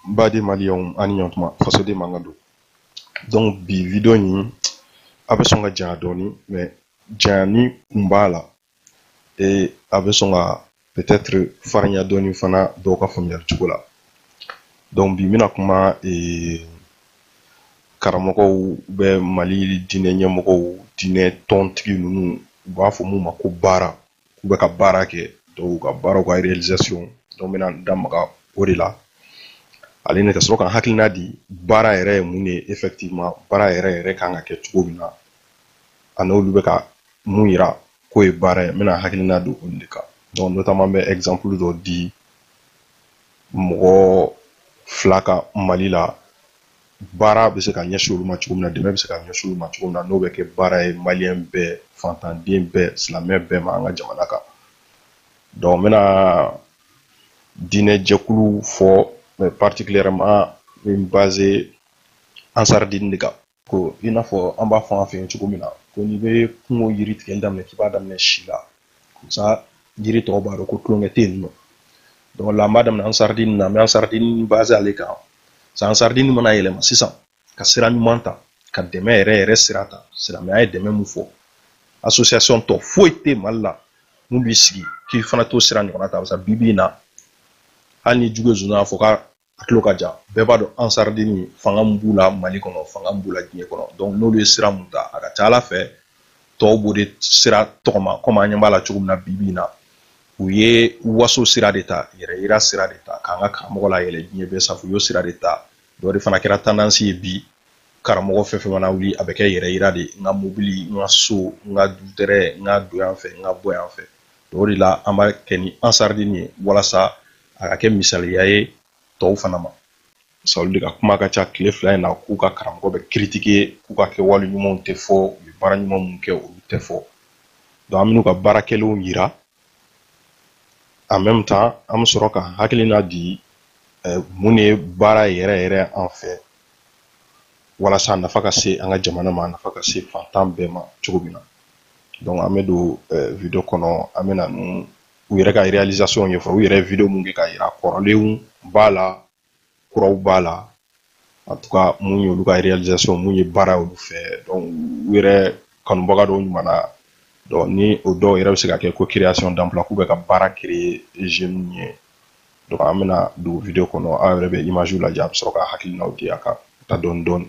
N baden maliyɛnw a ni ɲɔgɔntuma fasoden mankan don donc bi video in a bɛ sɔn ka janya dɔɔni mais janya in kun b'a la ee a bɛ sɔn ka peut-être farinya dɔɔni fana dɔw ka faamuyali cogo la donc bi n bɛna kuma ee karamɔgɔw bɛ mali diinɛ ɲɛmɔgɔw diinɛ tɔntigi ninnu u b'a fɔ mun ma ko baara k'u bɛ ka baara kɛ donc u ka baara u ka réalisation donc n bɛna n da maga o de la ale ne ka sɔrɔ ka hakilina di baara yɛrɛ ye mun de ye effectivement baara yɛrɛ yɛrɛ kan ka kɛ cogo min na a n'olu bɛ ka mun yira k'o ye baara ye n bɛna hakilina di olu de kan donc notamment n bɛ exemple dɔ di mɔgɔ fila kan mali la baara bɛ se ka ɲɛsin olu ma cogo min na dɛmɛ bɛ se ka ɲɛsin olu ma cogo min na n'o bɛ kɛ baara ye maliyɛn bɛɛ fantanden bɛɛ silamɛ bɛɛ ma an ka jamana kan donc n bɛna diinɛ jɛkulu fɔ mais particulièrement n bɛ n baser ansaridini de kan ko i n'a fɔ an b'a fɔ an fɛ yen cogo min na ko n'i bɛ kungo yiri tigɛli daminɛ k'i b'a daminɛ si la sa yiri tɔw b'a dɔn ko tulonkɛ tɛ yen nɔ donc la an b'a daminɛ ansaridini na an bɛ ansaridini baser ale kan sa ansaridini mana yɛlɛma sisan ka sira ɲuman ta ka dɛmɛ yɛrɛ yɛrɛ sira ta silamɛya ye dɛmɛ mun fɔ association tɔ foyi tɛ mali la mun b'i sigi k'i fana t'o sira ɲɔgɔnna ta barisa bi bi in na hali n'i jugu ye sonsan ye a fɔ k'a a tulo ka jan bɛɛ b'a dɔn ansaridini fanga min b'u la mali kɔnɔ fanga min b'u la diɲɛ kɔnɔ donc n'olu ye sira mun ta a ka ca ala fɛ tɔw b'o de sira tɔgɔma komi an ɲɛ b'a la cogo min na bi bi in na u ye waso sira de ta yɛrɛ yira sira de ta k'an ka karamɔgɔ layɛlɛ diɲɛ bɛɛ sanfɛ u y'o sira de ta dɔ de fana kɛra tendance ye bi karamɔgɔ fɛn fɛn mana wuli a bɛ kɛ yɛrɛ yira de n ka mobili n ka so n ka dutɛrɛ n ka don yan fɛ n ka bɔ yan fɛ o de la an b'a kɛ ni ansaridini ye walasa a ka kɛ misaliya ye tɔw fana ma sabu olu de ka kuma ka ca tile fila in na k'u ka karamɔgɔ bɛ critiquer k'u ka kɛwale ɲumanw tɛ fɔ u ye baara ɲuman minnu kɛ olu tɛ fɔ donc an bɛn'u ka baara kɛlenw yira en même temps an bɛ sɔrɔ ka hakilina di eh, mun de ye baara yɛrɛ yɛrɛ an fɛ walasa a nafa ka se an ka jamana ma a nafa ka se fantan bɛɛ ma cogo min na donc an bɛ don eh, video kɔnɔ an bɛna ninnu u yɛrɛ ka réalisation ɲɛfɔ u yɛrɛ video mun kɛ ka yira kɔrɔlenw b'a la kuraw b'a la en tout cas mun y'olu ka réalisation mun ye baara olu fɛ donc u yɛrɛ kanubaga dɔw ɲumanna donc ni o dɔw yɛrɛ bɛ se ka kɛ ko création d'emploi k'u bɛ ka baara créer jeunes ye donc an bɛna don video kɔnɔ aw yɛrɛ bɛ image lajɛ a bɛ sɔrɔ ka hakilinaw di a kan ka taa dɔɔni dɔɔni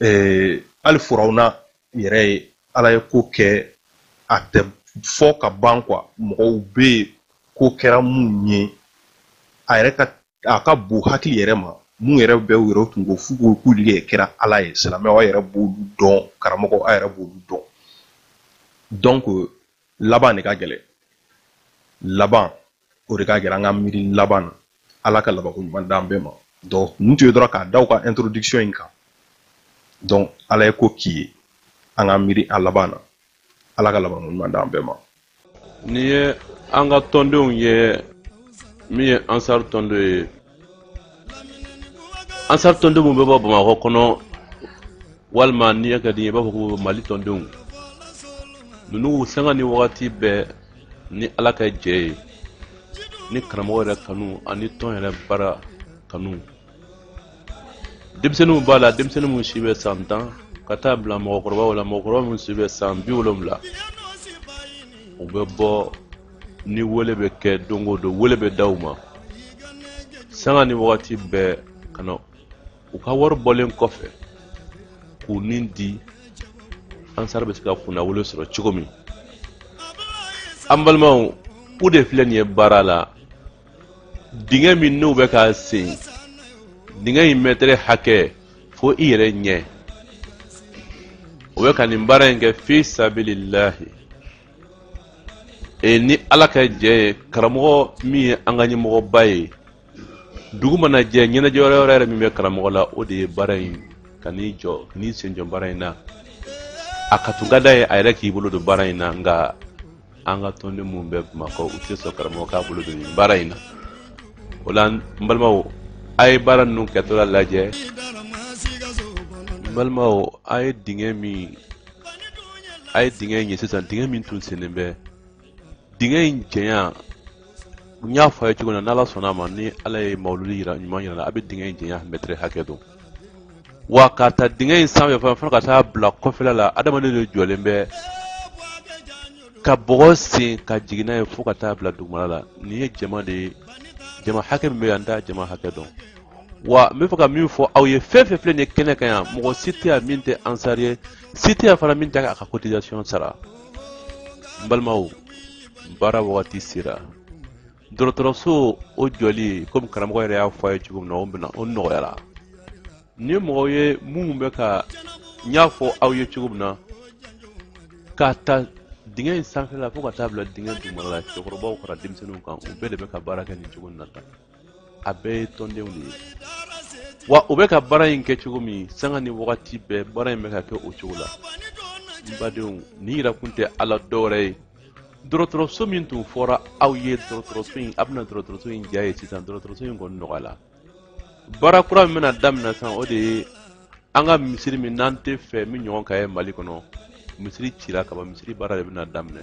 ee hali firawuna yɛrɛ ye ala ye ko kɛ a tɛ fɔ ka ban quoi mɔgɔw bɛ yen ko kɛra mun ye a yɛrɛ ka a ka bon hakili yɛrɛ ma mun yɛrɛ bɛ u yɛrɛ tun ko f'u ko k'olu yɛrɛ kɛra ala ye silamɛw a yɛrɛ b'olu dɔn karamɔgɔ a yɛrɛ b'olu dɔn donc laban de ka gɛlɛn laban o de ka gɛlɛn an ka miiri laban na ala ka labanko ɲuman d'an bɛɛ ma donc nin tun ye dɔrɔn k'a da u ka introduction in kan donc ala ye ko k'i ye an ka miiri a laban na ala ka labanko ɲuman d'an bɛɛ ma nin ye an ka tɔndenw ye min ye ansar tɔnden ye ansar tɔnden minnu bɛ bɔ bamakɔ kɔnɔ walima ni a ka di i ye i b'a fɔ ko mali tɔndenw ninnu sanga ni wagati bɛɛ ni ala ka jɛ ye ni karamɔgɔ yɛrɛ kanu ani tɔn yɛrɛ baara kanu denmisɛnninw b'a la denmisɛnnin minnu si bɛ san tan ka taa bila mɔgɔkɔrɔbaw la mɔgɔkɔrɔba minnu si bɛ san bi wolonwula u bɛ bɔ ni wele bɛ kɛ don o don wele bɛ da u ma sanga ni wagati bɛɛ ka na u ka wari bɔlen kɔfɛ k'u ni di ansar bɛ se ka kunnawolo sɔrɔ cogo min an balimaw u de filɛ nin ye baara la dingɛ min n'u bɛ k'a sen dingɛ in mɛtɛrɛ hakɛ fo i yɛrɛ ɲɛ u bɛ ka nin baara in kɛ fi sabililahi e ni ala ka jɛ ye karamɔgɔ min ye an ka ɲɛmɔgɔba ye dugu mana jɛ ɲɛnajɛ wɛrɛ wɛrɛ yɛrɛ min bɛ karamɔgɔ la o de ye baara in ka n'i jɔ n'i sen jɔ baara in na a ka tun ka d'a ye a yɛrɛ k'i bolo don baara in na nka an ka tɔnden minnu bɛ bamakɔ u tɛ sɔn karamɔgɔ k'a bolo don nin baara in na o la n balimaw a ye baara ninnu kɛtɔla lajɛ n balimaw a ye dingɛ min a ye dingɛ in ye sisan dingɛ min tun sennen bɛ dingɛ in janya n y'a fɔ a ye cogo min na n'ala sɔnna a ma ni ala ye mawuludi ɲuman yira la a bɛ dingɛ in janya mɛtɛrɛ hakɛ dɔn wa k'a ta dingɛ in sanfɛ fana fo ka taa bila kɔfɛla la adamaden de jɔlen bɛ ka bɔgɔ sen ka jigin n'a ye fo ka taa bila dugumala la nin ye jama de ye jama hakɛ min bɛ yan n t'a jama hakɛ dɔn wa n bɛ fɛ ka min fɔ aw ye fɛn o fɛn filɛ nin ye kɛnɛ kan yan mɔgɔ si tɛ yan min tɛ ansari ye si tɛ yan fana min tɛ a ka cotisation sara n balimaw baara wagati sera dɔgɔtɔrɔso o jɔli komi karamɔgɔ yɛrɛ y'a fɔ a ye cogo min na o bɛna o nɔgɔyara ni mɔgɔw ye minnu bɛ ka n y'a fɔ aw ye cogo min na k'a ta dingɛ in sanfɛla fo ka taa bila dingɛ dugumala la cɛkɔrɔbaw fara denmisɛnninw kan u bɛɛ de bɛ ka baara kɛ nin cogo in na tan a bɛɛ ye tɔndenw de ye wa u bɛ ka baara in kɛ cogo min sanga ni wagati bɛɛ baara in bɛ ka kɛ o cogo la n badenw nin yirakun tɛ ala dɔwɛrɛ ye dɔgɔtɔrɔso min tun fɔra aw ye dɔgɔtɔrɔso in a bɛna dɔgɔtɔrɔso in ja ye sisan dɔgɔtɔrɔso in kɔni nɔgɔyala baara kura min bɛna daminɛ sisan o de ye an ka misiri min n'an tɛ fɛ min ɲɔgɔn ka ye mali kɔnɔ misiri cira kaban misiri baara de bɛna daminɛ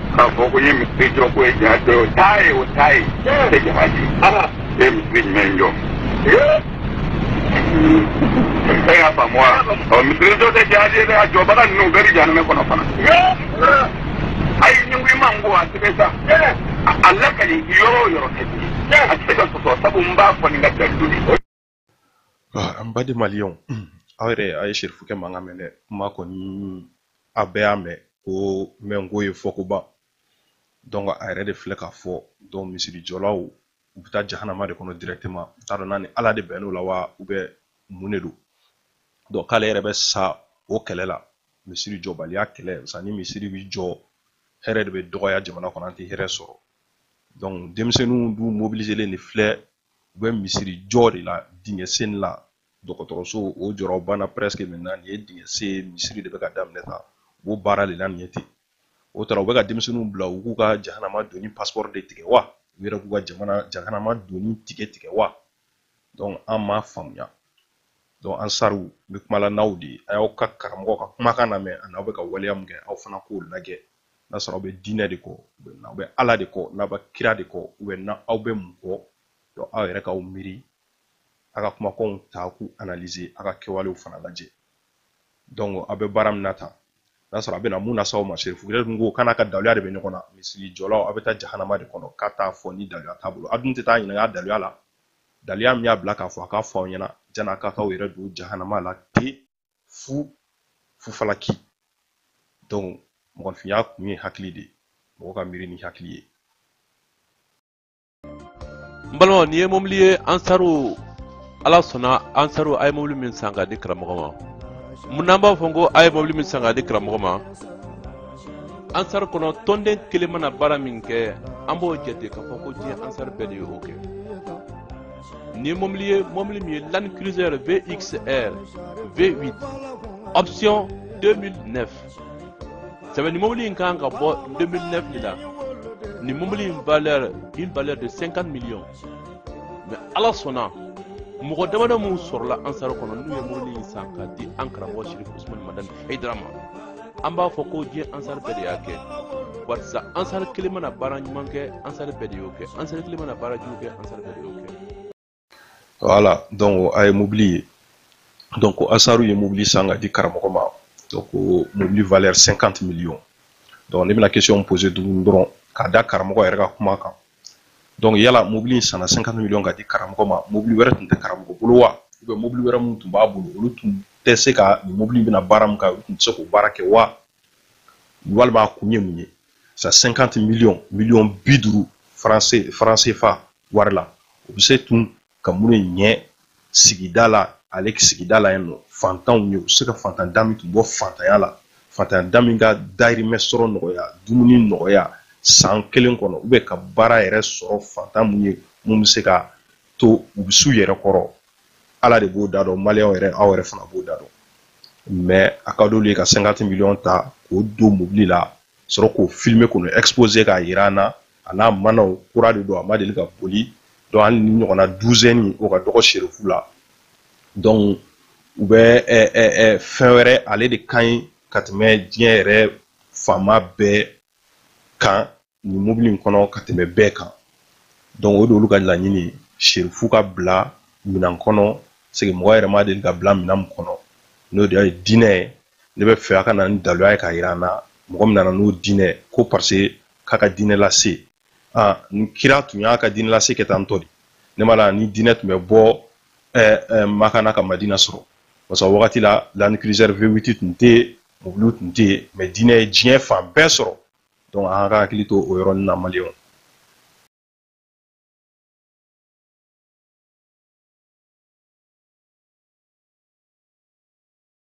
k'a fɔ ko n ye misiri jɔ k'o ye jihadi o t'a ye o t'a ye o tɛ jihadi ye misiri jumɛn in jɔ e y'a faamu wa ɔ misiri jɔ tɛ jihadi ye dɛ a jɔbaga ninnu u bɛɛ bɛ jahanama kɔnɔ fana ayi ɲunkun ma n ko a tɛgɛ sa a lakali yɔrɔ o yɔrɔ ka di a tɛ se ka sɔsɔ sabu n b'a fɔ nin ka jaabi An baden maliyɛnw aw yɛrɛ a ye sirifukɛ mankan mɛn dɛ kuma kɔni a bɛɛ y'a mɛn ko mɛnko ye fɔkoba donc a yɛrɛ de filɛ k'a fɔ donc misirijɔlaw u bɛ taa jahanama de kɔnɔ directement n t'a dɔn n'a ni ala de bɛnn'o la wa ou bien mun de don donc k'ale yɛrɛ bɛ sa o kɛlɛ la misiri jɔbaliya kɛlɛ parce que ni misiri bɛ jɔ hɛrɛ de bɛ dɔgɔya jamana kɔnɔ an tɛ hɛrɛ sɔrɔ donc denmisɛnninw dun mobiliselen de filɛ u bɛ misiri jɔ de la dingɛ sen la dɔgɔtɔrɔso o jɔyɔrɔ banna presque maintenant nin ye dingɛ sen ye misiri de bɛ ka daminɛ tan u b'o baara de la nin ye ten o tara u bɛ ka denmisɛnninw bila u k'u ka jahanama donni passeport de tigɛ wa u yɛrɛ k'u ka jamana jahanama donni ticket tigɛ wa donc an m'a faamuya donc ansaruw n bɛ kuma la n'aw de ye a y'aw ka karamɔgɔ ka kumakan lamɛn ani aw bɛ ka waleya min kɛ aw fana k'o lajɛ n'a sɔrɔ aw bɛ diinɛ de kɔ aw bɛ ala de kɔ n'aw bɛ kira de kɔ n'aw bɛ mun kɔ aw yɛrɛ k'aw miiri a ka kumakanw ta k'u analize a ka kɛwalew fana lajɛ aw bɛ baara min na tan n'a sɔrɔ a bɛna mun lase aw ma serifu yɛrɛ dun ko kana ka daluya de bɛ ɲɔgɔn na misiri jɔlaw aw bɛ taa jahanama de kɔnɔ k'a t'a fɔ ni daluya t'a bolo aw dun tɛ taa ɲininka daluya la daluya min y'a bila k'a fɔ a k'a fɔ aw ɲɛna jan'a k'a k'aw yɛrɛ don jahanama la ten fu falaki donc mɔgɔninfinya kun ye hakili de ye mɔgɔ ka miiri ni hakili ye n balimaw nin ye mobili ye ansaru ala sɔnna ansaru a ye mobili min san k'a di karamɔgɔ ma mun n'an b'a fɔ ko a ye mobili min san k'a di karamɔgɔ ma ansaru kɔnɔ tɔnden kelen mana baara min kɛ an b'o jate k'a fɔ ko diɲɛ ansaru bɛɛ de ye o kɛ nin ye mobili ye mobili min ye Land Cruiser VXR V8 option 2009 sɛbɛn ni mobili in kan ka bɔ 2009 de la ni mobili in valeur une valeur de 50 millions mais ala sɔnna mɔgɔ damadɔ minnu sɔrɔla ansaru kɔnɔ n'u ye mobili in san k'a di an karamɔgɔ serifu usumani madani hayidara ma an b'a fɔ ko diɲɛ ansari bɛɛ de y'a kɛ barisa ansari kelen mana baara ɲuman kɛ ansari bɛɛ de y'o kɛ ansari kelen mana baara jugu kɛ ansari bɛɛ de y'o kɛ voilà donc a ye mobili ye donc ansaru ye mobili san k'a di karamɔgɔ ma donc mobili valeur 50 millions donc ne bɛna question poser tuguni dɔrɔn ka da karamɔgɔ yɛrɛ ka kuma kan donc yala mobili in sanna cinquante million k'a di karamɔgɔ ma mobili wɛrɛ tun tɛ karamɔgɔ bolo wa ou bien mobili wɛrɛ minnu tun b'a bolo olu tun tɛ se ka nin mobili in bɛna baara min kɛ olu tun tɛ se k'o baara kɛ wa walima a kun ye mun ye sa cinquante million miliyɔn bi duuru franc CFA wari la o bɛ se tun ka mun de ɲɛ sigida la ale sigida la yen nɔ fantanw ye u se ka fantan da min tun bɔ fantanya la fantanya da min ka dahirimɛ sɔrɔ nɔgɔya dumuni nɔgɔya san kelen kɔnɔ ou bien ka baara yɛrɛ sɔrɔ fantan mun ye mun bɛ se ka to u bɛ s'u yɛrɛ kɔrɔ ala de b'o da dɔn maliyɛnw yɛrɛ aw yɛrɛ fana b'o da dɔn mais a ka d'olu ye ka cinquante million ta k'o don mobili la sɔrɔ k'o filmer k'o exposer k'a yira an na a n'a manaw kura de don a ma deli ka boli donc hali ni ɲɔgɔnna douzaine o ka dɔgɔ serifu la donc u bɛ fɛn wɛrɛ ale de ka ɲi ka tɛmɛ diɲɛ yɛrɛ faama bɛɛ kan nin mobili in kɔnɔ ka tɛmɛ bɛɛ kan donc o de olu ka laɲini ye serifu ka bila minan kɔnɔ c'est que mɔgɔ yɛrɛ ma deli ka bila minan min kɔnɔ n'o de ye diinɛ ye ne b'a fɛ a ka na ni daluya ye k'a yira an na mɔgɔ min nana n'o diinɛ ko parce k'a ka diinɛ lase aa ni kira tun y'a ka diinɛ lase kɛ tan tɔ de ne ma la ni diinɛ tun bɛ bɔ ɛɛ ɛɛ makan na ka madina sɔrɔ parce que wagati la land cruiser v8 tun tɛ yen mobiliw tun tɛ yen mais diinɛ ye diɲɛ fan bɛɛ sɔrɔ donc an ka hakili to o yɔrɔnin na maliyɛnw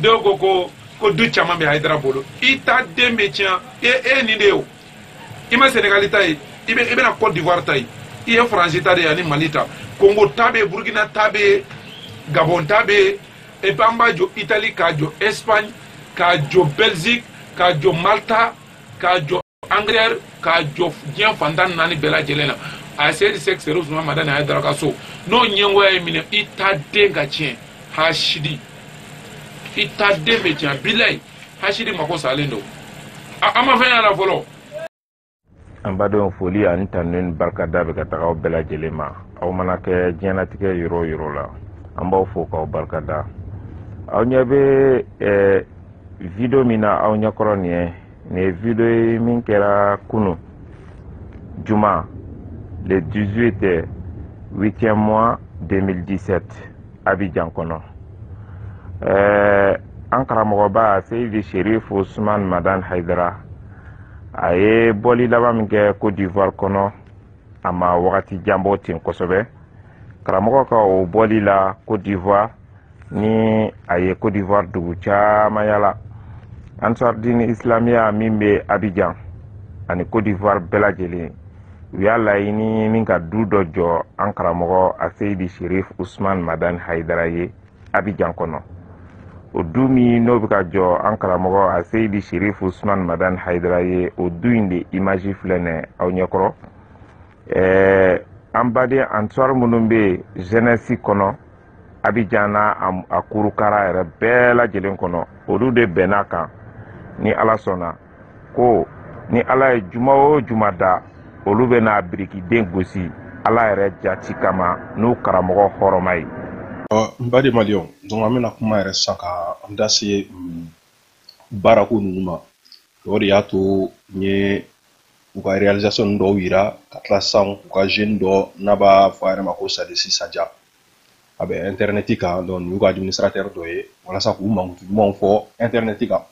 dɔw ko ko ko du caman bɛ hayidara bolo i ta den bɛ tiɲɛ e ye nin de ye o i ma senegali ta ye i bɛ i bɛna cote d'ivoire ta ye i ye faransi ta de ye ani mali ta kongo ta bɛ yen burkina ta bɛ yen gabon ta bɛ yen et puis an b'a jɔ italie k'a jɔ espagne k'a jɔ belgique k'a jɔ malta k'a jɔ angleterre k'a jɔ diɲɛ fan tan ni naani bɛɛ lajɛlen na a ye seyidi sek serifu usman madani hayidara ka so n'o ɲɛngoya y'i minɛ i ta den ka tiɲɛ hasidi i ta den bɛ tiɲɛ bilayi hasidi mako salen don a ma fɛn y'a la fɔlɔ an badenw foli ani tanu ni barika da bɛ ka taga aw bɛɛ lajɛlen ma aw mana kɛ diɲɛlatigɛ yɔrɔ o yɔrɔ la an b'aw fo k'aw barika da aw ɲɛ bɛ video min na aw ɲɛkɔrɔ nin ye nin ye video ye min kɛra kunu juma le 18 8e mois 2017 abijan kɔnɔ ɛɛ an karamɔgɔba seyidi sherif usman madan haidara a ye bɔli laban min kɛ cote d'ivoire kɔnɔ a ma wagati jan bɔ ten kosɛbɛ karamɔgɔ ka o bɔli la cote d'ivoire ni a ye Côte d'Ivoire dugu caman yala Ansar Dine Islamiya min bɛ Abidjan ani Côte d'Ivoire bɛɛ lajɛlen u y'a laɲini min ka du dɔ jɔ an karamɔgɔ Aseyidi Sherif Ousmane Madani Hayidara ye Abidjan kɔnɔ o du min n'o bɛ ka jɔ an karamɔgɔ Aseyidi Sherif Ousmane Madani Hayidara ye o du in de image filɛ nin ye aw ɲɛkɔrɔ ɛɛ an baden Ansar minnu bɛ jeunesse kɔnɔ abijan n'a a kurukara yɛrɛ bɛɛ lajɛlen kɔnɔ olu de bɛnn'a kan ni ala sɔnna ko ni ala ye juma o juma da olu bɛna birikiden gosi ala yɛrɛ jati kama n'u karamɔgɔ hɔrɔma ye n baden maliɲɛw donc an bɛna kuma yɛrɛ sisan ka an da se mm, baarako ninnu ma o de y'a to n ye u ka réalisation dɔw yira ka tila sisan u ka jeune dɔ n'a b'a fɔ a yɛrɛ ma ko sadisi saja a bɛ intɛrɛnɛti kan donc nin y'u ka administratɛri dɔ ye walasa k'u mankutu ɲumanw fɔ intɛrɛnɛti kan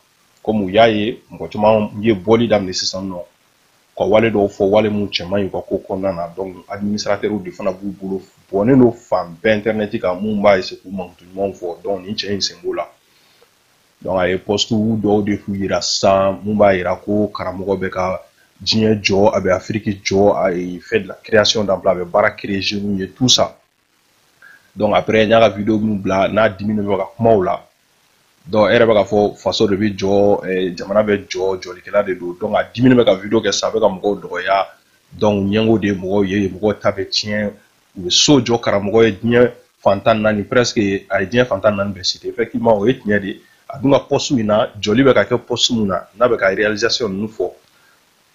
kɔmi u y'a ye mɔgɔ caman ye bɔli daminɛ sisan nɔ ka wale dɔw fɔ wale minnu cɛ man ɲi u ka ko kɔnɔna na donc administratɛriw de fana b'u bolo bɔnnen don fan bɛɛ intɛrɛnɛti kan minnu b'a essayer k'u mankutu ɲumanw fɔ donc nin cɛ in sen b'o la donc a ye pɔstu dɔw de fɔlɔ yira sisan mun b'a yira ko karamɔgɔ bɛ ka diɲɛ jɔ a bɛ afiriki jɔ a fait de la création d'emploi a bɛ baara créer jeunes ye tout ça donc après n y'a ka video min bila n'a diminen bɛ ka kuma o la donc e yɛrɛ bɛ k'a fɔ faso de bɛ jɔ eh, jamana bɛ jɔ jɔlikɛla de don donc a diminen bɛ ka video kɛ sisan a bɛ ka mɔgɔw dɔgɔya donc ɲɛngo de ye mɔgɔw ye mɔgɔw ta bɛ tiɲɛ u bɛ so jɔ karamɔgɔ ye diɲɛ fan tan naani presque a ye diɲɛ fan tan naani bɛɛ citer effectivement o ye tiɲɛ de ye a dun ka poste min na jɔli bɛ ka kɛ poste min na n'a bɛ ka réalisation ninnu fɔ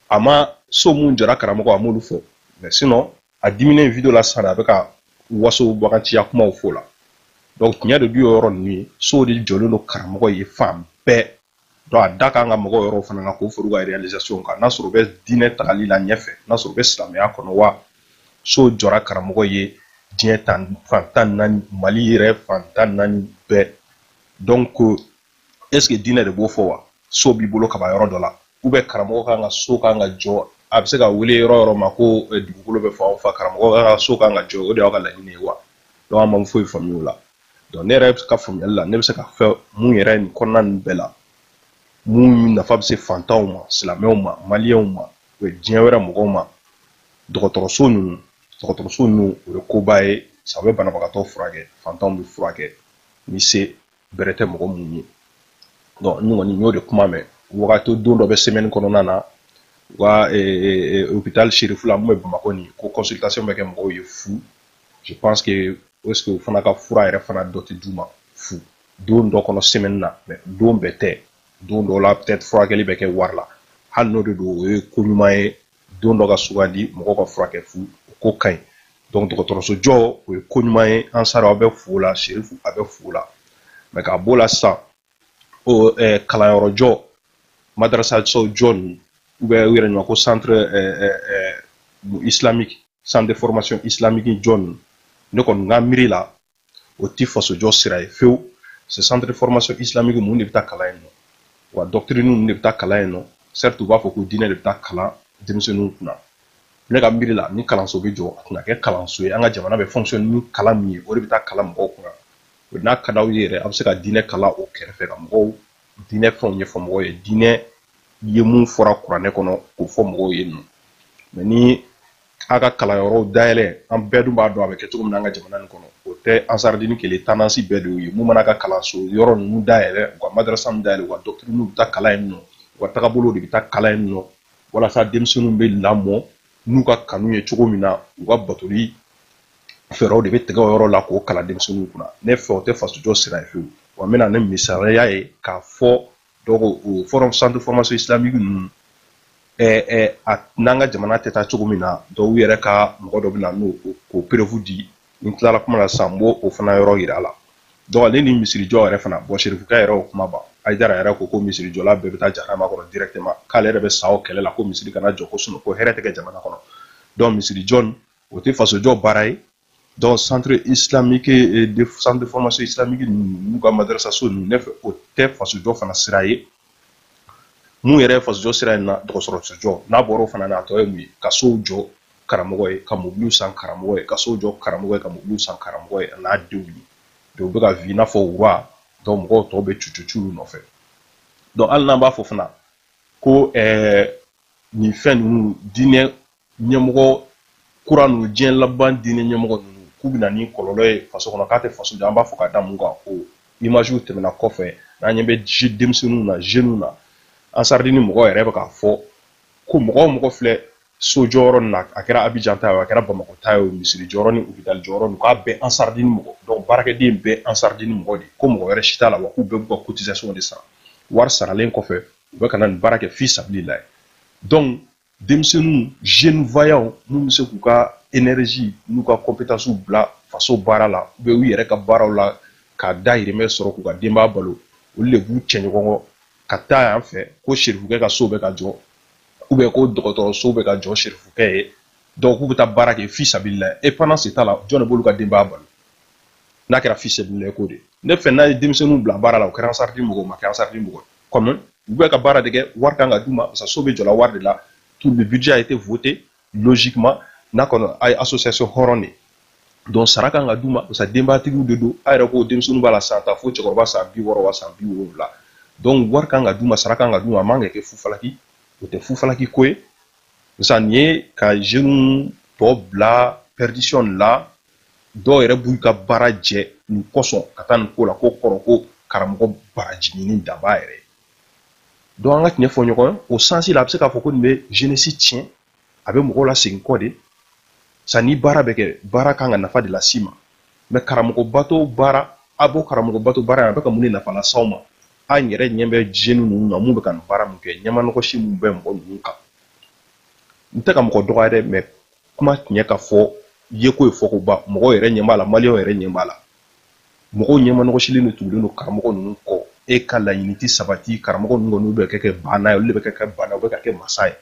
a ma so mun jɔra karamɔgɔ a m'olu fɔ mais sinon a diminen video la sisan a bɛ ka wasobaganciya kumaw fɔ la donc tiɲɛ de don o yɔrɔ ninnu ye sow de jɔlen don karamɔgɔ ye fan bɛɛ donc a da kan ka mɔgɔ yɔrɔw fana na k'o fara u ka réalisation kan n'a sɔrɔ u bɛ diinɛ tagali la ɲɛfɛ n'a sɔrɔ u bɛ silamɛya kɔnɔ wa so jɔra karamɔgɔ ye diɲɛ tan fan tan naani mali yɛrɛ fan tan naani bɛɛ donc est ce que diinɛ de b'o fɔ wa so b'i bolo kaban yɔrɔ dɔ la ou bien karamɔgɔ kan ka so kan ka jɔ a bɛ se ka wele yɔrɔ yɔrɔ ma ko eh, dugukolo bɛ fan o fan karamɔgɔ kan ka so kan ka jɔ o de y'aw ka laɲini ye wa donc an ma foyi faamuya o la donc ne yɛrɛ ka faamuyali la ne bɛ se ka fɛn mun yɛrɛ nin kɔnɔna ninnu bɛɛ la mun nafa bɛ se fantanw ma silamɛw ma maliyɛnw ma u ye diinɛ wɛrɛ mɔgɔw ma dɔgɔtɔrɔso ninnu dɔgɔtɔrɔso ninnu o ye koba ye sabu u bɛ banabagatɔ furakɛ fantanw bɛ furakɛ ni se bɛrɛ tɛ mɔgɔ minnu ye donc n kɔni n y'o de kuma mɛn wagati don dɔ bɛ semaine kɔnɔna na u ka hôpital sherifula mun bɛ bamakɔ nin ko consultation bɛ kɛ mɔgɔw ye fu je pense que est ce que u fana ka fura yɛrɛ fana dɔ tɛ d'u ma fu don dɔ kɔnɔ semaine na mais don bɛɛ tɛ don dɔ la peut être furakɛli bɛ kɛ wari la hali n'o de don o ye ko ɲuman ye don dɔ ka sugandi mɔgɔw ka furakɛ fu o ko ka ɲi donc dɔgɔtɔrɔso jɔ o ye ko ɲuman ye ansar aw bɛ fo la serifu a bɛ fo la mais k'a b'o la sisan o eh, kalanyɔrɔ jɔ madrasaso jɔ ninnu ou bien u yɛrɛ ɲuman ko centre eh, eh, eh, islamique centre de formation islamique jɔ ninnu ne kɔni ka miiri la o ti fasojɔ sira ye fewu ce centre de formation islamique mun de bɛ taa kalan yen nɔ wa doctrine ninnu de bɛ taa kalan yen nɔ certes u b'a fɔ ko diinɛ de bɛ taa kalan denmisɛnninw kunna ne ka miiri la ni kalanso bɛ jɔ a tun ka kɛ kalanso ye an ka jamana bɛ fonctionner ni kalan min ye o de bɛ taa kalan mɔgɔw kunna o n'a ka d'aw ye yɛrɛ a bɛ se ka diinɛ kalan o kɛrɛfɛ ka mɔgɔw diinɛ fɛnw ɲɛfɔ mɔgɔw ye diinɛ ye mun fɔra kuranɛ kɔnɔ k'o fɔ mɔgɔw ye nɔ mais ni a ka kalanyɔrɔw dayɛlɛ an bɛɛ dun b'a dɔn a bɛ kɛ cogo min na an ka jamana nin kɔnɔ o tɛ ansaridini kelen tendance bɛɛ de ye mun mana ka kalanso yɔrɔ ninnu dayɛlɛ u ka madarasa ninnu dayɛlɛ u ka doctrine bɛ taa kalan yen nɔ u ka tagabolo de bɛ taa kalan yen nɔ walasa denmisɛnninw bɛ lamɔ n'u ka kanu ye cogo min na u ka batoli fɛɛrɛw de bɛ tigɛ o yɔrɔ la k'o kalan denmisɛnninw kunna ne fɛ o tɛ fasojɔ sira ye fewu wa n bɛ na ni misaliya ye k'a fɔ donc o forum centre formation islamique ninnu ɛɛ ɛɛ a n'an ka jamana tɛ taa cogo min na donc u yɛrɛ ka mɔgɔ dɔ bɛ na n'o k'o preuve di ni n tilala kuma la sisan n b'o o fana yɔrɔ yira a la donc ale ni misirijɔ yɛrɛ fana bon serifukɛ yɛrɛ o kuma ban ayidara yɛrɛ ko ko misirijɔla bɛɛ bɛ taa jahanama kɔnɔ directement k'ale yɛrɛ bɛ sa o kɛlɛ la ko misiri kana jɔ ko sinon ko hɛrɛ tɛ kɛ jamana kɔnɔ donc misirijɔ o tɛ fasojɔ baara ye donc centre islamique eh, de centre de formation islamique n'u ka madrasaso ninnu ne fɛ o tɛ fasojɔ fana sira ye mun yɛrɛ ye fasojɔ sira in na dɔgɔtɔrɔsojɔ n'a bɔra o fana na a tɔ ye mun ye ka sow jɔ karamɔgɔ ye ka mobiliw san karamɔgɔ ye ka sow jɔ karamɔgɔ ye ka mobiliw san karamɔgɔ ye a n'a denw ye donc u bɛ ka vivre i n'a fɔ roi donc mɔgɔw tɔw bɛ cucucu u nɔfɛ donc hali n'an b'a fɔ fana ko ɛɛ eh, nin fɛn ninnu diinɛ ɲɛmɔgɔ kura ninnu diɲɛ laban diinɛ ɲɛmɔgɔ ninnu k'u bɛ na ni kɔlɔlɔ ye faso kɔnɔ k'a tɛ faso jɔ an b'a fɔ ka da mun kan o image tɛmɛna kɔfɛ n'an ɲɛ bɛ denmisɛnninw na jeunes na ansaridini mɔgɔ yɛrɛ bɛ k'a fɔ ko mɔgɔ o mɔgɔ filɛ so jɔyɔrɔ nin na a kɛra abijan ta ye a kɛra bamakɔ ta ye misiri jɔyɔrɔ ni hôpital jɔyɔrɔ nin k'a bɛɛ ansaridini mɔgɔ donc baarakɛden bɛɛ ansaridini mɔgɔ de ko mɔgɔ wɛrɛ si t'a la wa k'u bɛɛ b'u ka cotisation de sara wari saralen kɔfɛ u bɛ ka na nin baara kɛ fi sabilila ye donc denmisɛnninw jeunes vaillants minnu bɛ se k'u ka énergie n'u ka compétences bila faso baara la u bɛ u yɛrɛ ka baaraw la ka dahirimɛ sɔrɔ k'u ka denbaya balo olu de b'u cɛ ɲɔgɔn kɔ ka taa yan fɛ ko serifukɛ ka so bɛ ka jɔ ou bien ko dɔgɔtɔrɔso bɛ ka jɔ serifukɛ ye donc k'u bɛ taa baara kɛ fi sabilila ye et pendant ce temps là jɔn de b'olu ka denbaya balo n'a kɛra fi sabilila ko de ne fɛ n'a ye denmisɛnninw bila baara la o kɛra ansaridini mɔgɔ o ma kɛ ansaridini mɔgɔ ye kɔmi u bɛ ka baara de kɛ wari kan ka d'u ma parce que so bɛ jɔla wari de la tout le budget a été voté logiquement n'a kɔni a ye association hɔrɔn de ye donc sara kan ka d'u ma parce que denbayatigiw de don a yɛrɛ ko denmisɛnninw b'a la san ta fo cɛkɔrɔba san bi wɔɔrɔ wa san bi wolonwula donc wari kan ka d'u ma sara kan ka d'u ma a man ka kɛ fufalaki o tɛ fufalaki ko ye sisan nin ye ka jeunes tɔ bila perdition la dɔw yɛrɛ b'u ka baara jɛ nin kosɔn ka taa nin ko la ko kɔrɔ ko karamɔgɔ baraji ɲini daba yɛrɛ donc an ka tiɲɛ fɔ ɲɔgɔn ye o sens la a bɛ se k'a fɔ ko nin bɛ jeunesse tiɲɛ a bɛ mɔgɔw lasegin kɔ de sa ni baara bɛ kɛ baara kan ka nafa de las'i ma mais karamɔgɔ bato baara a b'o karamɔgɔ bato baara in a bɛ ka mun de nafa las'aw ma an yɛrɛ ɲɛ bɛ jeunes ninnu na mun bɛ ka nin baara min kɛ ɲɛmanɔgɔsi minnu bɛ mɔgɔ ninnu kan n tɛ ka mɔgɔ dɔgɔya dɛ mais kuma tiɲɛ ka fɔ yeko ye fɔko ban mɔgɔw yɛrɛ ɲɛ b'a la maliyɛnw yɛrɛ ɲɛ b'a la mɔgɔw ɲɛmanɔgɔsilen de tugulen don karamɔgɔ ninnu kɔ e ka laɲini tɛ sabati karamɔgɔ ninnu kɔni bɛ ka kɛ baana ye olu de bɛ ka kɛ baana u bɛ ka kɛ masa ye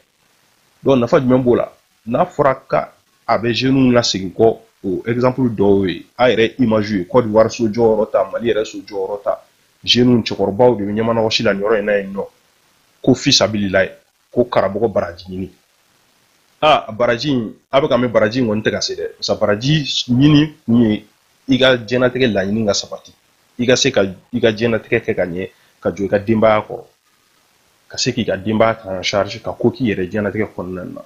donc nafa jumɛn b'o la n'a fɔra k'a bɛ jeunes lasegin kɔ o exemple dɔw ye a yɛrɛ image ye Côte d'Ivoire so jɔyɔrɔ ta Mali yɛrɛ so jɔyɔrɔ ta jeunes cɛkɔrɔbaw de bɛ ɲɛmanɔgɔsi la nin yɔrɔ in na yen nɔ ko fisabililayi ko karamɔgɔ baraji ɲini a baraji in a bɛ ka mɛɛn baraji in kɔni tɛ ka se dɛ parce que baraji ɲini kun ye i ka diɲɛnatigɛ laɲini ka sabati i ka se ka i ka diɲɛnatigɛ kɛ ka ɲɛ ka jɔ i ka denbaya kɔrɔ ka se k'i ka denbaya ta en charge ka ko k'i yɛrɛ diɲɛnatigɛ kɔnɔna na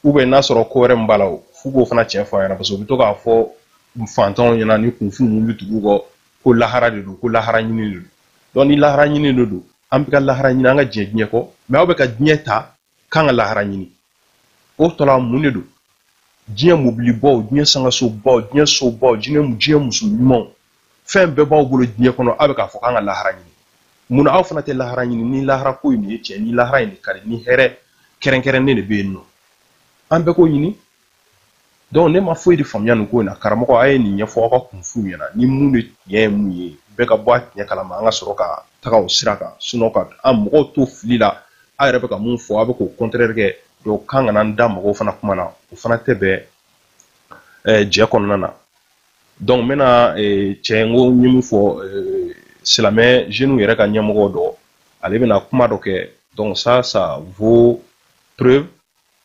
ou bien n'a sɔrɔ ko wɛrɛ min b'a la o f'u k'o fana tiɲɛ fɔ a ɲɛna parce que u bɛ to k'a fɔ fantanw ɲɛna ni kunfin minnu bɛ tugu u kɔ ko lahara de don ko lahara ɲini de don donc ni lahara ɲini de don an bɛ ka lahara ɲini an ka ɲinɛ diɲɛ kɔ mais aw bɛ ka diɲɛ ta k'an ka lahara ɲini o tɔla mun de don diɲɛ mobilibaw diɲɛ sankansobaw diɲɛ sobaw diɲɛ diɲɛ muso ɲumanw fɛn bɛɛ b'aw bolo diɲɛ kɔnɔ aw bɛ k'a fɔ k'an ka lahara ɲini mun na aw fana tɛ lahara ɲini ni lahara ko in de ye tiɲɛ ni lahara in de ka di ni hɛrɛ kɛrɛnkɛrɛnnen de bɛ yen nɔ an bɛɛ k'o ɲini ne ma foyi de faamuya nin ko in na karamɔgɔ a ye nin ɲɛfɔ aw ka kunfinw ɲɛna ni mun de tiɲɛ ye mun ye bɛɛ ka bɔ a tiɲɛ kalama an ka sɔrɔ ka taga o sira kan sinon ka an mɔgɔw to fili la aw yɛrɛ bɛ ka mun fɔ aw bɛ k'o contraire kɛ donc k'an kana n da mɔgɔw fana kuma na o fana tɛ bɛn eh, jɛ kɔnɔna na donc n bɛna eh, cɛ n ko n ye min fɔ eh, silamɛ jeunes yɛrɛ ka ɲɛmɔgɔ dɔ ale bɛna kuma dɔ kɛ donc ça ça vaut preuve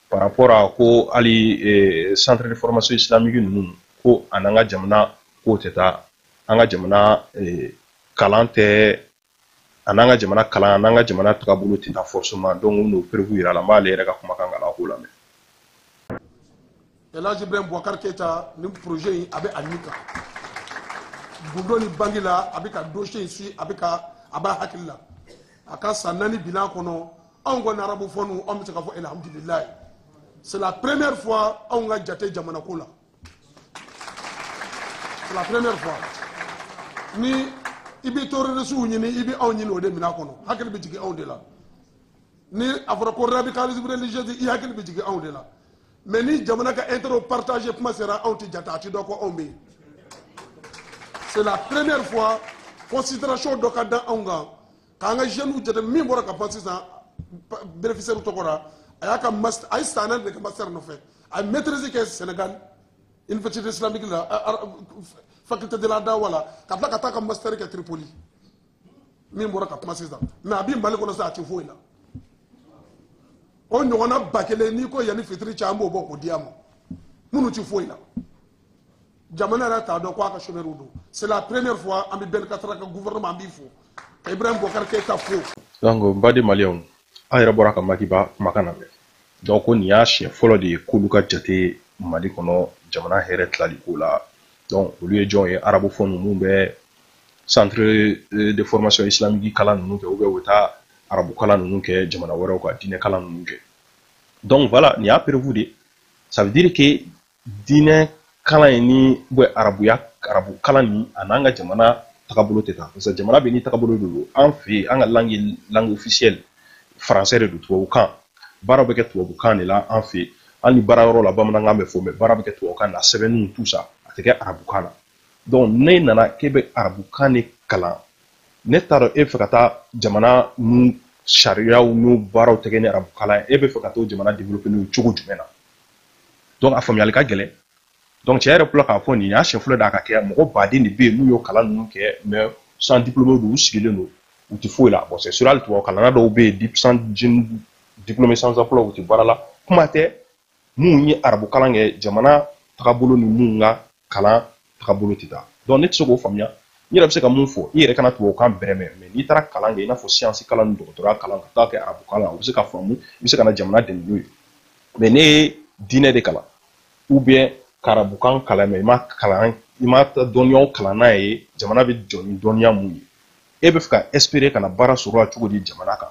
par rapport à ko hali eh, centre de formation islamique ninnu ko a ni an ka jamana ko tɛ taa an ka jamana eh, kalan tɛ ani an ka jamana kalan a ni an ka jamana tagabolo tɛ taa forcément donc n n'o preuve yira a la n b'ale yɛrɛ ka kumakan k'a la k'o lamɛn elaji ibrahim bubakar keyita nin projet in a bɛ a ɲini kan gundo ni bangi la a bɛ ka dossier in suivi a bɛ ka a b'a hakili la a ka san naani bilan kɔnɔ anw kɔni arabophones anw bɛ se ka fɔ alhamdulilayi c'est la première fois anw ka jate jamana ko la c'est la première fois ni i bɛ terrorisiw ɲini i bɛ anw ɲini o domaine kɔnɔ hakili bɛ jigin anw de la ni a fɔra ko radicalisme religieux i hakili bɛ jigin anw de la mais ni jamana ka intérêt partager kuma sera anw tɛ jate a tɛ dɔn ko anw bɛ yen c'est la première fois considération dɔ ka da anw kan k'an ka jeunes jate min bɔra ka kuma sisan bénéficiaire tɔgɔ la a y'a ka master a ye san naani de kɛ master nɔfɛ a ye maîtrise kɛ Sénégal université islamique la faculté de la dawa la ka tila ka taa ka master kɛ Tripoli min bɔra ka kuma sisan mais a bi mali kɔnɔ sa a ti foyi la o ɲɔgɔnna ba kelen n'i ko yanni fitiri cɛ an b'o bɔ k'o di a ma minnu ti foyi la jamana yɛrɛ t'a dɔn ko a ka chômeurs don c'est la première fois an bɛ ben kattra ka gouvernement an b'i fo ka ibrahim bokar keyita fo donc n baden maliyɛnw aw yɛrɛ bɔra ka maki ba kumakan lamɛn donc ko nin y'a siɲɛ fɔlɔ de ye k'olu ka jate mali kɔnɔ jamana hɛrɛ tilali ko la donc olu ye jɔn ye arabophones minnu bɛ centre euh, de formation islamique kalan ninnu kɛ ou bien u bɛ taa arabu kalan ninnu kɛ jamana wɛrɛw ka diinɛ kalan ninnu kɛ donc voilà nin y'a preuve de ça veut dire que diinɛ kalan in ni arabuya arabu kalan nin a n'an ka jamana tagabolo tɛ taa parce que jamana bɛɛ n'i tagabolo de don an fɛ yen an ka langue ye langue officielle français de don tubabukan baaraw bɛ kɛ tubabukan de la an fɛ yen hali ni baara yɔrɔ la bamanankan bɛ fɔ mais baara bɛ kɛ tubabukan na sɛbɛnniw tout ça a tɛ kɛ arabukan na donc ne nana k'e bɛ arabukan de kalan ne t'a dɔn e bɛ fɛ ka taa jamana n'u sariyaw n'u baaraw tɛ kɛ ni arabukan ye e bɛ fɛ ka t'o jamana développer n'o cogo jumɛn na donc a faamuyali ka gɛlɛn donc cɛ yɛrɛ filɛ k'a fɔ nin y'a siɲɛ fɔlɔ de a ka kɛ mɔgɔ baden de bɛ yen n'u y'o kalan ninnu kɛ mais sans diplôme don u sigilen don u tɛ foyi la bon c'est sûr hali tubabu kalanna dɔw bɛ yen diplômé sans emploi u tɛ baara la kuma tɛ minnu ye arabu kalan kɛ jamana tagabolo ni minnu ka kalan tagabolo tɛ taa donc ne tɛ se k'o faamuya n yɛrɛ bɛ se ka mun fɔ i yɛrɛ kana tubabukan bɛrɛ mɛn mais n'i taara kalan kɛ i n'a fɔ science kalan ni dɔgɔtɔrɔya kalan ka taa kɛ arabu kalan o bɛ se ka faamu i bɛ se ka na jamana dɛmɛ n'o ye mais n'e ye diinɛ de kalan ou bien ka arabukan kalan mais i ma kalan i ma dɔnniyaw kalan n'a ye jamana bɛ jɔ ni dɔnniya mun ye e bɛ fɛ ka espérer ka na baara sɔrɔ la cogo di jamana kan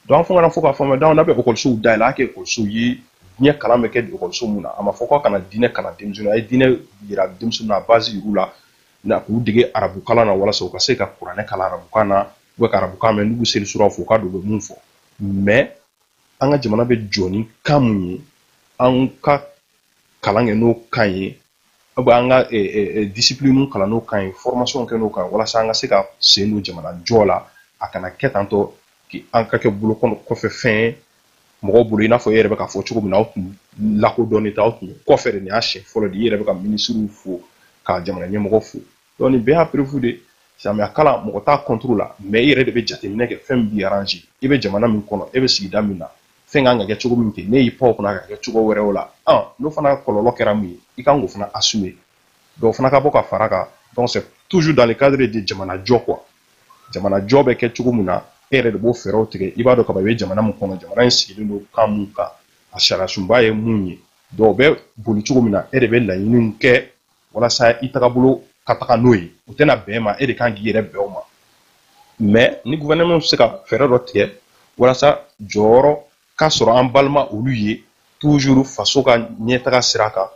donc an fo kana fo k'a faamuya donc n'a bɛ ekɔlisow dayɛlɛ a kɛ ekɔlisow ye diinɛ kalan bɛ kɛ ekɔliso mun na a ma fɔ k'a kana diinɛ kalan denmisɛnnin a ye diinɛ yira denmisɛnnin na a base yir'u la k'u dege arabu kalan na walasa u ka se ka kuranɛ kalan arabukan na u ka arabukan mɛn n'u bɛ seli suraw fɔ u k'a dɔn u bɛ mun fɔ mais an ka jamana bɛ jɔ ni kan mun ye an ka kalan kɛ n'o kan ye ou bien an ka discipline kalan n'o kan ye formation kɛ n'o kan walasa an ka se ka sen don jamana jɔ la a kana kɛ tantɔ an ka kɛ bolo kɔfɛ fɛn ye mɔgɔ bolo i n'a fɔ e yɛrɛ bɛ ka fɔ cogo min na aw tun lakodɔnnen tɛ aw tun kɔfɛ de nin y'a siɲɛ fɔlɔ de i yɛrɛ bɛ ka minisiriw fo ka jamana ɲɛmɔgɔ fo donc nin bɛɛ y'a preuve de silamɛya kalan mɔgɔ t'a contre la mais i yɛrɛ de bɛ jateminɛ kɛ fɛn min b'i arranger i bɛ jamana min kɔnɔ e bɛ sigida min na fɛn kan ka kɛ cogo min kɛ n'e y'i pan o kunna ka kɛ cogo wɛrɛw la n'o fana kɔlɔlɔ kɛra min ye i kan k'o fana assumer donc o fana ka bɔ ka fara kan donc c'est toujours dans le cadre de jamana jɔ quoi jamana jɔ bɛ kɛ cogo min na e yɛrɛ de b'o fɛɛrɛw tigɛ i b'a dɔn kaba i bɛ jamana min kɔnɔ jamana in sigilen don kan min kan a sariyasunba ye mun ye donc o bɛ boli cogo min na e de bɛ laɲiniw kɛ walasa i tagabolo ka taga n'o ye o tɛna bɛn e ma e de kan k'i yɛrɛ bɛn o ma mais ni gouvernement bɛ se ka fɛɛrɛ dɔ tigɛ walasa jɔyɔrɔ ka sɔrɔ an balima olu ye toujours faso ka ɲɛtaga sira kan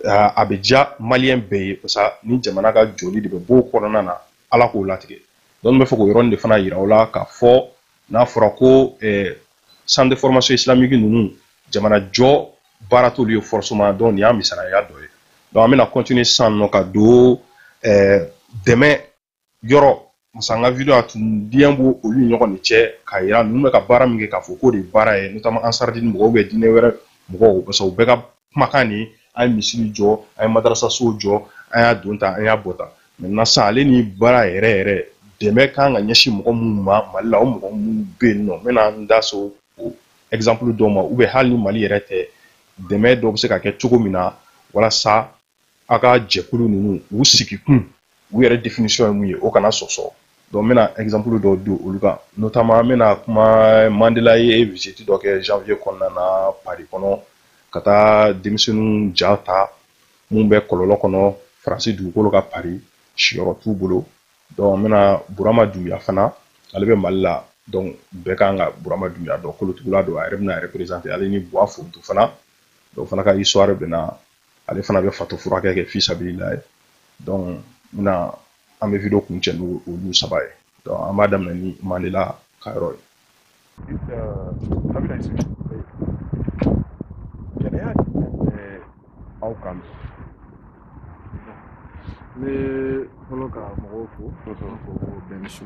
a bɛ diya maliyɛn bɛɛ ye parce que ni jamana ka jɔli de bɛ bɔ o kɔnɔna na ala k'o latigɛ donc n bɛ fɛ k'o yɔrɔnin de fana yira aw la k'a fɔ n'a fɔra ko centre de formation islamique ninnu jamana jɔ baara t'olu ye forcément donc nin y'a misaliya dɔ ye donc an bɛna continuer sisan nɔ ka don eh, dɛmɛ yɔrɔ parce que an ka video a tun diɲɛ b'o olu ɲɔgɔn de cɛ k'a yira ninnu bɛ ka baara min kɛ k'a fɔ k'o de ye baara ye notamment ansardini mɔgɔw ou bien diinɛ wɛrɛ mɔgɔw parce que u bɛɛ ka kumakan de ye an ye misiri jɔ an ye madarasasow jɔ an y'a don tan an y'a bɔ tan maintenant sisan ale ni baara yɛrɛ yɛrɛ dɛmɛ kan ka ɲɛsin mɔgɔ minnu ma mali la o mɔgɔ minnu bɛ yen nɔ n bɛna n da so o exemple dɔw ma ou bien hali ni mali yɛrɛ tɛ dɛmɛ dɔ bɛ se ka kɛ cogo min na walasa aw ka jɛkulu ninnu u sigi kun u yɛrɛ définition ye mun ye o kana sɔsɔ donc n bɛna exemple dɔw di olu kan notamment n bɛna kuma Mandela ye visite dɔ kɛ janvier kɔnɔna na Paris kɔnɔ ka taa denmisɛnninw ja ta mun bɛ kɔlɔlɔ kɔnɔ Faransi dugukolo kan Paris siyɔrɔ t'u bolo donc n bɛna Burama Dunbiya fana ale bɛ Mali la donc bɛɛ kan ka Burama Dunbiya dɔn kolotugula don a yɛrɛ bɛna représenter ale ni Buwa Fontu fana donc fana ka histoire bɛna ale fana bɛ fatɔ furakɛ kɛ fi sabililahi donc n bɛna an bɛ video kuncɛ n'olu saba ye donc an b'a daminɛ ni mandela ka yɔrɔ ye gɛlɛya jumɛn bɛ aw kan ne fɔlɔ ka mɔgɔw fo fo bɛn su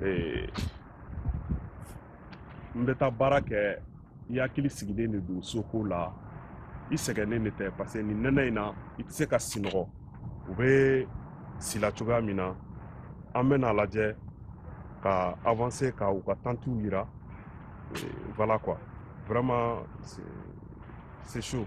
ee n bɛ taa baara kɛ i hakili sigilen de don soko la i sɛgɛnnen de tɛ parce que nin nɛnɛ in na i tɛ se ka sinɔgɔ u bɛ si la cogoya min na an bɛna a lajɛ ka avancer ka u ka tantiw yira voilà quoi vraiment c'est chaud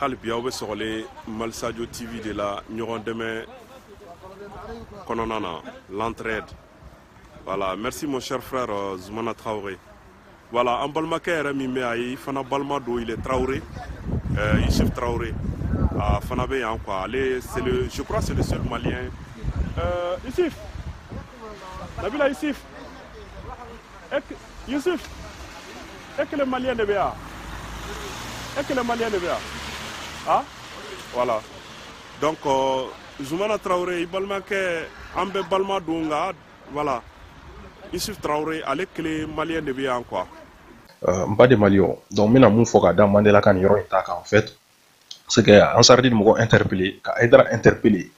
hali bi aw bɛ sɔgɔlen mali sajo tv de la ɲɔgɔn dɛmɛ kɔnɔna na l'entraide voilà merci mon cher frère euh, zumana traoré voilà an balimakɛ yɛrɛ min bɛ a ye fana balima don il est traoré euh, yusuf traoré a fana bɛ yan quoi ale c'est le je crois c'est le seul malien euh, yusuf nabila yusuf yusuf e kelen maliyɛn de bɛ yan e kelen maliyɛn de bɛ yan a voilà donc euh, zumana tarawele i balimakɛ an bɛɛ balima don nka voilà yusuf tarawele ale kelen maliyɛn de bɛ yan quoi euh, n ba de maliyɛn donc n bɛna mun fɔ ka da mandela ka nin yɔrɔ in ta kan en fait c'est que ansaridi mɔgɔ interpellé ka aidara interpellé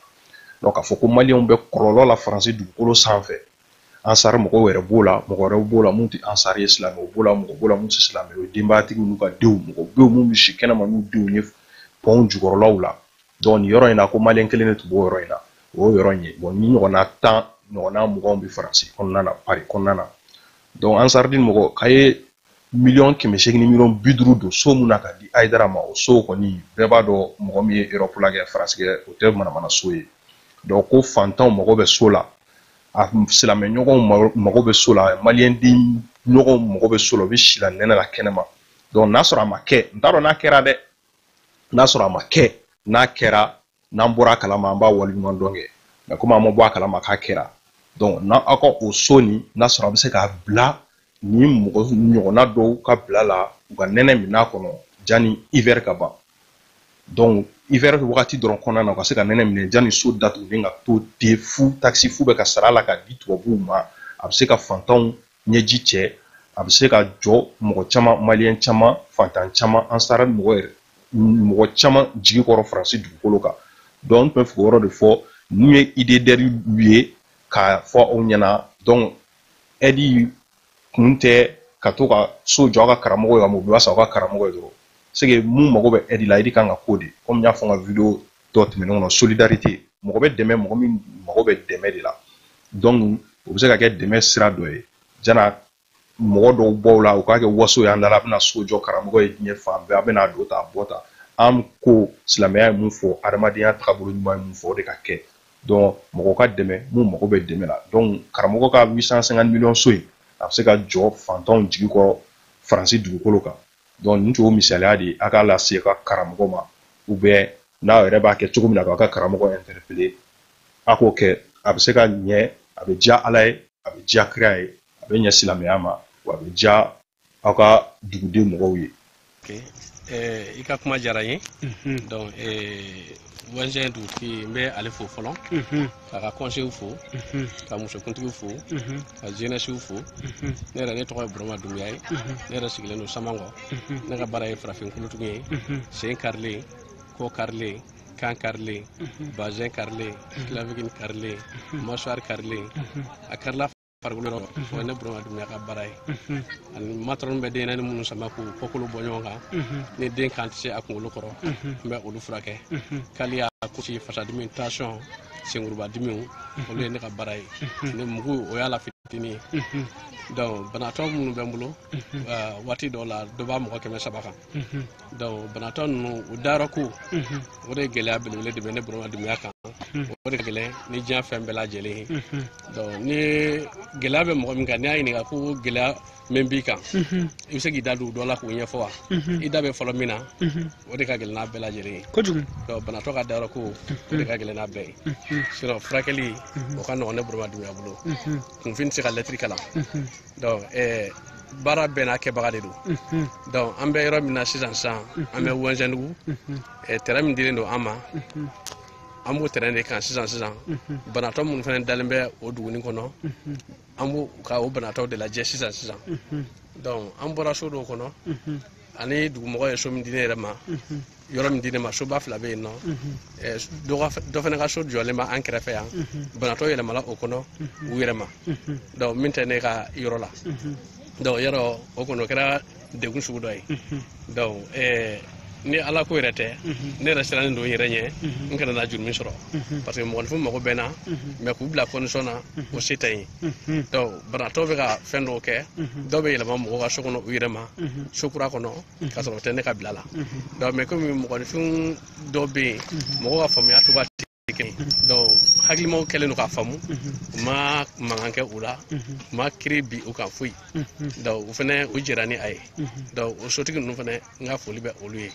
donc k'a fɔ ko maliyɛnw bɛ kɔlɔlɔ la faransi dugukolo sanfɛ ansari mɔgɔw yɛrɛ b'o la mɔgɔ wɛrɛw b'o la mun tɛ ansari ye silamɛw b'o la mɔgɔ b'o la mun tɛ silamɛ ye denbayatigiw n'u ka denw mɔgɔ bɛ yen mun bɛ si kɛnɛma n'u denw ye pɔnw jukɔrɔlaw la donc nin yɔrɔ in na ko maliyɛn kelen de tun b'o yɔrɔ in na o y'o yɔrɔ in ye bon nin ɲɔgɔnna tan ɲɔgɔnna muganw bɛ faransi kɔnɔna na paris kɔnɔna na donc ansaridi mɔgɔ k'a ye miliyɔn kɛmɛ seegin ni miliyɔn bi duuru don so mun na ka di ayidara ma o so kɔni bɛɛ b'a dɔn mɔgɔ min ye erɔpu la kɛ faransi kɛ o tɛ manamana so ye donc ko fantanw mago bɛ so la a silamɛ ɲɔgɔnw mago bɛ so la maliyɛnden ɲɔgɔnw mago bɛ so la u bɛ si la nɛnɛ la kɛnɛma donc n'a sɔrɔ a ma kɛ n t'a dɔn n'a kɛra dɛ n'a sɔrɔ a ma kɛ n'a kɛra n'an bɔra a kalama an b'a waleɲuman dɔn kɛ mais komi an ma bɔ a kalama k'a kɛra donc n'aw ka o so nin n'a sɔrɔ a bɛ se k'a bila ni mɔgɔ ɲɔgɔnna dɔw ka bila la u ka nɛnɛ min'a kɔnɔ jani hiver ka ban donc hiver wagati dɔrɔn kɔnɔna na u ka se ka nɛnɛ minɛ jani so datugulen ka to ten fu taxe fu bɛ ka sara la ka di tubabuw ma a bɛ se ka fantanw ɲɛji cɛ a bɛ se ka jɔ mɔgɔ caman maliyɛn caman fantan caman ansara mɔgɔ caman jigi kɔrɔ faransi dugukolo kan donc n tun bɛ fɛ k'o yɔrɔ de fɔ ninnu ye idée d'aide ye k'a fɔ aw ɲɛna donc aide kun tɛ ka to ka so jɔ a ka karamɔgɔ ye ka mobili san aw ka karamɔgɔ ye dɔrɔn c'est que mun mago bɛ aide la aide kan ka k'o de kɔmi n y'a fɔ n ka video dɔ tɛmɛnen kɔnɔ solidarite mɔgɔ bɛ dɛmɛ mɔgɔ min mago bɛ dɛmɛ de la donc o bɛ se ka kɛ dɛmɛ sira dɔ ye jana mɔgɔ dɔw b'aw la u k'a kɛ waso y'an dala a bɛna so jɔ karamɔgɔ ye diɲɛ fan bɛɛ a bɛna don ta bɔ ta an ko silamɛya ye mun fɔ adamadenya tagabolo ɲuman ye mun fɔ o de ka kɛ donc mɔgɔ ka dɛmɛ mun mago bɛ dɛmɛ la donc karamɔgɔ ka 850 miliyɔn so in a bɛ se ka jɔ fantanw jigi kɔrɔ faransi dugukolo kan donc nin tun misaliya de a k'a lase ka karamɔgɔ ma ou bien n'aw yɛrɛ b'a kɛ cogo min na k'a ka karamɔgɔ interpeller a k'o kɛ a bɛ se ka ɲɛ a bɛ diya ala ye a bɛ diya kira ye a bɛ ɲɛ silamɛya ma wa a bɛ diya aw ka duguden mɔgɔw ye i ka kuma diyara n ye donc wɛnzɛn dugutigi n bɛ ale fo fɔlɔ k'a ka kɔnsew fo ka musokuntigiw fo ka jenɛsiw fo ne yɛrɛ ne tɔgɔ ye burama dumuya ye ne yɛrɛ sigilen don samankɔ ne ka baara ye farafin kolotugu ye sen karilen kɔ karilen kan karilen basɛn karilen kilavikili karilen masuwari karilen a karila farikolo yɔrɔ o ye ne burama dumuya ka baara ye ani matɔrɔn bɛ dennin minnu sama k'u kɔkolo bɔ ɲɔgɔn kan ni den kan tɛ se a kunkolo kɔrɔ n bɛ olu furakɛ kaliya kusi fasadimi tansiyɔn senkurubadimiw olu ye ne ka baara ye ne mugu o y'a la fitini ye donc banatɔ minnu bɛ n bolo waati dɔw la dɔ b'a mɔgɔ kɛmɛ saba kan donc banatɔ ninnu u dayɔrɔ ko o de ye gɛlɛya belebele de bɛ ne burama dumuya kan o de ka gɛlɛn ni diɲɛ fɛn bɛɛ lajɛlen ye donc ni gɛlɛya bɛ mɔgɔ min kan n'i y'a ɲininka ko gɛlɛya min b'i kan i bɛ se k'i da don dɔ la k'o ɲɛfɔ wa i da bɛ fɔlɔ min na o de ka gɛlɛn n'a bɛɛ lajɛlen ye kojugu donc banatɔ ka dayɔrɔ ko o de ka gɛlɛn n'a bɛɛ ye sinon furakɛli o ka nɔgɔn ne burama dumuya bolo kunfin tɛ se ka lɛtiri kalan donc eh, baara bɛɛ n'a kɛbaga de don donc an bɛ yɔrɔ min na sisan sisan an bɛ wɛnzɛndugu eh, tɛrɛn min dilen don an ma an b'o tɛrɛn de kan sisan sisan banatɔ minnu fana dalen bɛ o duguni kɔnɔ an b'o ka o banatɔw de lajɛ sisan sisan donc an bɔra so dɔw kɔnɔ ani dugumɔgɔ ye so min di ne yɛrɛ ma yɔrɔ min di ne ma soba fila bɛ yen nɔ dɔ fana ka so jɔlen bɛ an kɛrɛfɛ yan banatɔ yɛlɛmala o kɔnɔ u yɛrɛ ma donc min tɛ ne ka yɔrɔ la donc yɔrɔ o kɔnɔ o kɛra degun sugu dɔ ye donc ni ala ko yɛrɛ tɛ ne yɛrɛ sirannen don n yɛrɛ ɲɛ n kana na jurumi sɔrɔ parce que mɔgɔninfin mago bɛ n na mais k'u bila condition na o se tɛ n ye donc banatɔ bɛ ka fɛn dɔw kɛ dɔw bɛ yɛlɛma mɔgɔ ka so kɔnɔ u yɛrɛ ma so kura kɔnɔ k'a sɔrɔ o tɛ ne ka bila la donc mais komi mɔgɔninfin dɔw bɛ yen mɔgɔw ka faamuya cogoya tɛ kelen ye donc hakilimaw kɛlen don k'a faamu u ma mankan kɛ u la u ma kiri bin u kan foyi donc o fana o jɛra ni a ye donc o sotigi ninnu fana n ka foli bɛ olu ye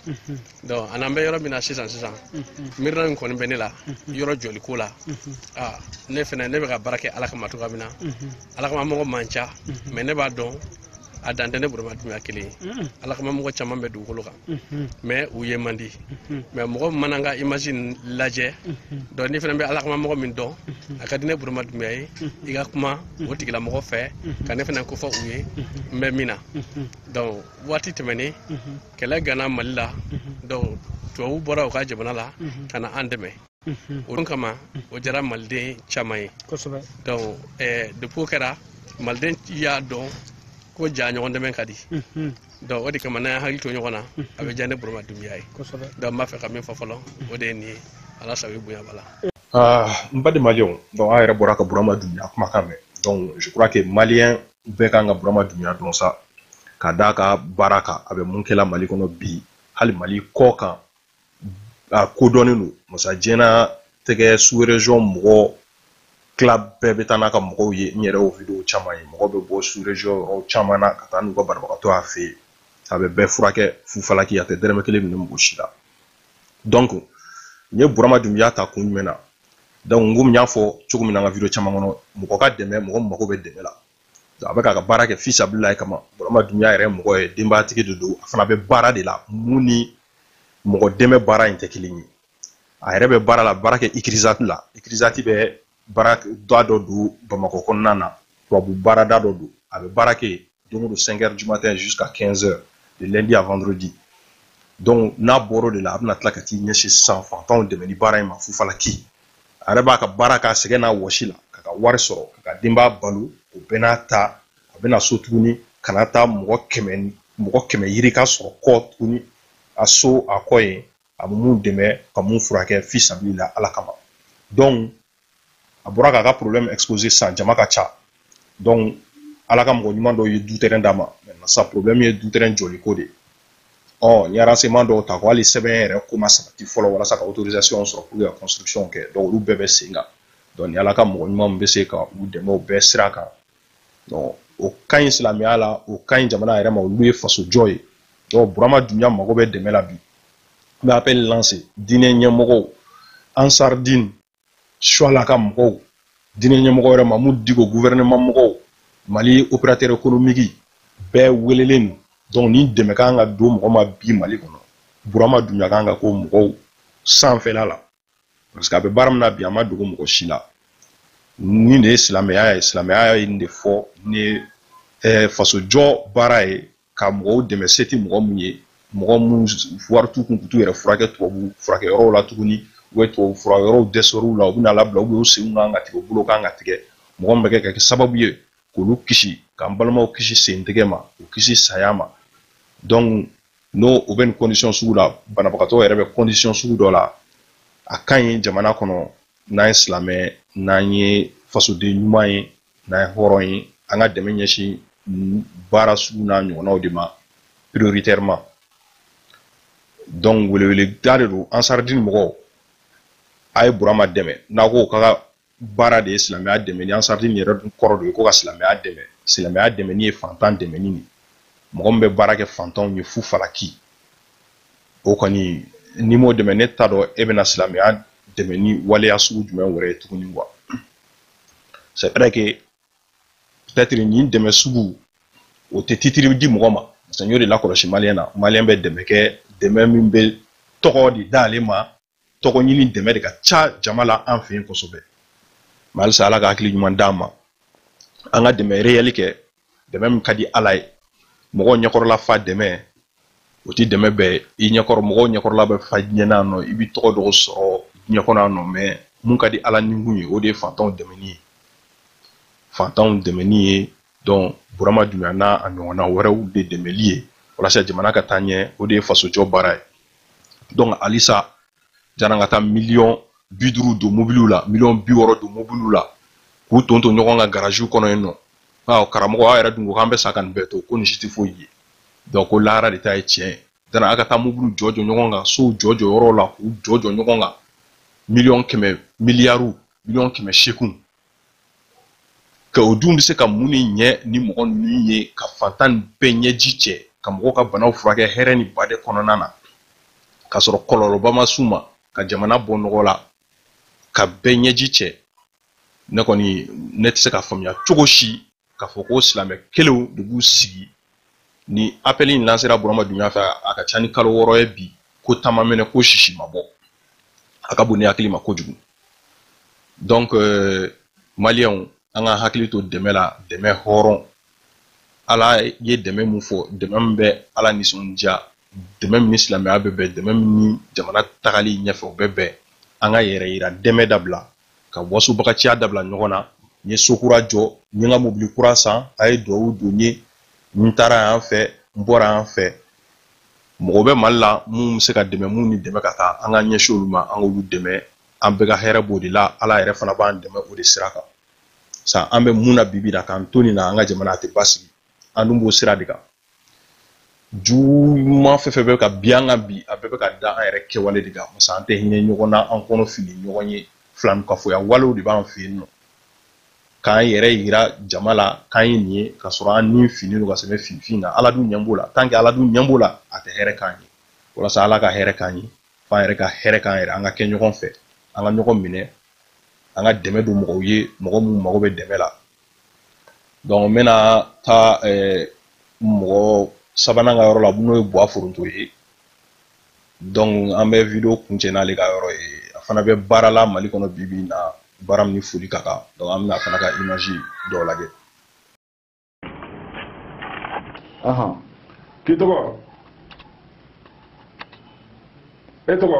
donc an'an bɛ yɔrɔ min na sisan sisan miirina min kɔni bɛ ne la yɔrɔ jɔliko la aa ne fɛnɛ ne bɛ ka baara kɛ ala kama cogoya min na ala kama mɔgɔ man ca mais ne b'a dɔn a dan tɛ ne burama dunbiya kelen ye ala kama mɔgɔ caman bɛ dugukolo kan mais u ye man di mais mɔgɔ min mana n ka image nin lajɛ donc n'i fɛnɛ bɛ ala kama mɔgɔ min dɔn a ka di ne burama dunbiya ye i ka kuma o tigilamɔgɔ fɛ ka ne fɛnɛ kofɔ u ye n bɛ min na donc waati tɛmɛnen mhm. kɛlɛ ganna mali la mhm. donc tubabu bɔra u ka jamana la mhm. ka na an dɛmɛ o don kama o diyara maliden caman ye donc eh, depuis o kɛra maliden y'a dɔn ko ja ɲɔgɔn dɛmɛ ka di donc o de kama n'an hakili to ɲɔgɔn na a bɛ diya ne burama dunbiya ye donc n b'a fɛ ka min fɔ fɔlɔ o de ye nin ye ala sago i bonya b'a la ah, n baden maliyɛnw donc an yɛrɛ bɔra ka burama dunbiya kumakan mɛn donc je crois que maliyɛn bɛɛ ka kan ka burama dunbiya dɔn sa ka d'a ka baara kan a bɛ mun kɛla mali kɔnɔ bi hali mali kɔkan a kodɔnnen don masa jɛna tɛgɛ sous-région mɔgɔ tila bɛɛ bɛ taa n'a ka mɔgɔw ye n yɛrɛ y'o video caman ye mɔgɔ bɛ bɔ sous-région yɔrɔ caman na ka taa n'u ka banabagatɔ y'a fɛ yen a bɛ bɛɛ furakɛ fufalaki a tɛ dɛrɛmɛ kelen minɛ mɔgɔ si la donc n ye burama dunbiya ta kun jumɛn na donc n komi n y'a fɔ cogo min na n ka video caman kɔnɔ mɔgɔ ka dɛmɛ mɔgɔ min mago bɛ dɛmɛ la a bɛ k'a ka baara kɛ fisabililayi kama burama dunbiya yɛrɛ mɔgɔ ye denbayatigi de don a fana bɛ baara de la mun ni mɔgɔ dɛmɛ baara in tɛ kelen ye a yɛrɛ bɛ baara la baara kɛ icrisat la icrisat bɛ baarada dɔ don bamakɔ kɔnɔna na tubabu baarada dɔ don a bɛ baara kɛ don o don 5 heures du matin jusqu'à 15 heures de lundi à vendredi donc n'a bɔr'o de la a bɛna tila ka t'i ɲɛsin sisan fantanw dɛmɛni baara in ma fufalaki a yɛrɛ b'a ka baara k'a sɛgɛn n'a wɔsi la k'a ka wari sɔrɔ k'a ka denbaya balo o bɛɛ n'a ta a bɛ na so tuguni ka na taa mɔgɔ kɛmɛ yirika sɔrɔ kɔ tuguni a so a kɔ ye a bɛ mun dɛmɛ ka mun furakɛ fisabilila ala kama donc a bɔra k'a ka problème exposer sisan jama ka ca donc ala ka mɔgɔ ɲuman dɔw ye du terrain d'a ma maintenant sa problème ye du terrain jɔli ko de ye ɔ n ye renseignement dɔw ta ko hali sɛbɛn yɛrɛ ko ma sabati fɔlɔ walasa ka autorisation sɔrɔ pour ka construction kɛ donc olu bɛɛ bɛ sen kan donc ni ala ka mɔgɔ ɲuman bɛ se ka u dɛmɛ o bɛɛ sira kan o ka ɲi silamɛya la o ka ɲi jamana yɛrɛ ma olu ye faso jɔ ye donc burama dunbiya mago bɛ dɛmɛ la bi n bɛ appel lancer diinɛ ɲɛmɔgɔw ansardin suala ka mɔgɔw diinɛ ɲɛmɔgɔ yɛrɛ mamudu diko gouvernement mɔgɔw mali opérateur économique bɛɛ welelen don donc ni dɛmɛ kan ka don mɔgɔ ma bi mali kɔnɔ burama dunbiya kan ka k'o mɔgɔw sanfɛla la parce que a bɛ baara min na bi a ma dogo mɔgɔ si la nin de ye silamɛya ye silamɛya ye nin de fɔ nin ye eh, fasojɔ baara ye ka mɔgɔw dɛmɛ se tɛ mɔgɔ mun ye mɔgɔ mun wari t'u kun k'u yɛrɛ furakɛ tubabu furakɛ yɔrɔw la tuguni u bɛ tubabu furakɛ yɔrɔw dɛsɛr'u la u bɛna labila u bɛ u senw kan ka tigɛ u bolo kan ka tigɛ mɔgɔ min bɛ kɛ ka kɛ sababu ye k'olu kisi k'an balimaw kisi sen tigɛ ma u kisi saya ma donc n'o bɛ nin condition sugu la banabagatɔ yɛrɛ bɛ condition sugu dɔ la a ka ɲi jamana kɔnɔ n'an ye silamɛ n'an ye fasoden ɲuman ye n'an ye hɔrɔn ye an ka dɛmɛ ɲɛsin baara sugu n'a ɲɔgɔnnaw de ma prioritairement donc weleweleda de don ansaridini mɔgɔw a ye burama dɛmɛ n'a ko ka baara de ye silamɛya dɛmɛni ansaridini yɛrɛ dun kɔrɔ de ye ko ka silamɛya dɛmɛ silamɛya dɛmɛni ye fantan dɛmɛni de mɔgɔ min bɛ baara kɛ fantanw ye fu falaki o kɔni n'i m'o dɛmɛ ne t'a dɔn e bɛna silamɛya dɛmɛ ni waleya sugu jumɛn wɛrɛ ye tuguni wa c'est vrai que peut-être nin dɛmɛ sugu o tɛ titiri di mɔgɔ ma parce que n y'o de lakɔlɔsi maliyɛn na maliyɛn bɛ dɛmɛ kɛ dɛmɛ min bɛ tɔgɔ de d'ale ma tɔgɔ ɲini dɛmɛ de ka ca jama la an fɛ yen kosɛbɛ mais halisa ala ka hakili ɲuman d'an ma an ka dɛmɛ réel kɛ dɛmɛ min ka di ala ye mɔgɔw ɲɛkɔrɔla fa dɛmɛ o tɛ dɛmɛ bɛrɛ ye ɲɛkɔrɔ mɔgɔw ɲɛkɔrɔla bɛ fa ɲɛna nɔ i bɛ tɔgɔ dɔw sɔrɔ diɲɛ kɔnɔ yan nɔ mais mun ka di ala ni kun ye o de ye fantanw dɛmɛni ye fantanw dɛmɛni ye donc burama dunbiya n'a a ɲɔgɔnna wɛrɛw de dɛmɛli ye walasa jamana ka taa ɲɛ o de ye fasojɔ baara ye donc halisa yann'a ka taa miliyɔn bi duuru don mobiliw la miliyɔn bi wɔɔrɔ don mobiliw la k'u ton ton ɲɔgɔn kan garaziw kɔnɔ yen nɔ aa karamɔgɔ aw yɛrɛ dun ko k'an bɛ sa ka nin bɛɛ to ko nin si tɛ foyi ye donc ko lahara de ta ye tiɲɛ ye yanni a ka taa mobiliw jɔ jɔ ɲɔgɔn kan sow jɔ jɔ yɔrɔw la k'u jɔ jɔ ɲɔgɔn kan miliyɔn kɛmɛ miliyariw miliyɔn kɛmɛ seeginw ka o dun bɛ se ka mun ni ɲɛ ni mɔgɔ ninnu ye ka fantannin bɛɛ ɲɛji cɛ ka mɔgɔw ka banaw furakɛ hɛrɛ ni baden kɔnɔna na k'a sɔrɔ kɔlɔlɔba ma s'u ma ka jamana bɔ nɔgɔ la ka bɛɛ ɲɛji cɛ ne kɔni ne tɛ se ka faamuya cogo si k'a fɔ ko silamɛ kelenw de b'u sigi ni apɛli in lansera burama dunbiya fɛ a ka ca ni kalo wɔɔrɔ ye bi ko ta ma mɛnɛ ko sisi ma bɔ a ka bon ne hakili ma kojugu donc euh, maliyɛnw an ka hakili to dɛmɛ la dɛmɛ hɔrɔn ala ye dɛmɛ min fɔ dɛmɛ min bɛ ala nisɔndiya dɛmɛ min ni silamɛya bɛ bɛn dɛmɛ min ni jamana tagali ɲɛfɛ o bɛ bɛn an ka yɛrɛyira dɛmɛ dabila ka wasobagaciya dabila ɲɔgɔn na n ye so kura jɔ n ye n ka mobili kura san a ye duwawu don n ye n taara yan fɛ n bɔra yan fɛ mɔgɔ bɛ mali la minnu bɛ se ka dɛmɛ minnu ni dɛmɛ ka kan an ka ɲɛsin olu ma an k'olu dɛmɛ an bɛɛ ka hɛrɛ b'o de la ala yɛrɛ fana b'an dɛmɛ o de sira kan sa an bɛ min na bi bi in na k'an to nin na an ka jamana a tɛ basigi an dun b'o sira de kan juguman fɛn fɛn bɛ ka bin an kan bi a bɛɛ bɛ ka da an yɛrɛ kɛwale de kan parce que an tɛ hinɛ ɲɔgɔn na an kɔnɔ finnen ɲɔgɔn ye filankafoya walew de b'an fɛ yen nɔ k'an yɛrɛ yira jama la k'an ye nin ye k'a sɔrɔ an ni finnen don ka sɛbɛn finfin na ala dun ɲɛ b'o la tant que ala dun ɲɛ b'o la a tɛ hɛrɛ k'an ye walasa ala ka hɛrɛ k'an ye f'an yɛrɛ ka hɛrɛ k'an yɛrɛ an ka kɛ ɲɔgɔn fɛ an ka ɲɔgɔn minɛ an ka dɛmɛ don mɔgɔw ye mɔgɔ minnu mago bɛ dɛmɛ la donc n bɛna taa mɔgɔ sabanan ka yɔrɔ la n'o ye buwa foronto ye donc an bɛ wideyo kuncɛ n'ale ka yɔrɔ ye a fana bɛ baara la mali kɔnɔ bi bi in na baara min ni foli ka kan donc an bɛna a fana ka imazi dɔw lajɛ Ahan. K'i tɔgɔ? E tɔgɔ?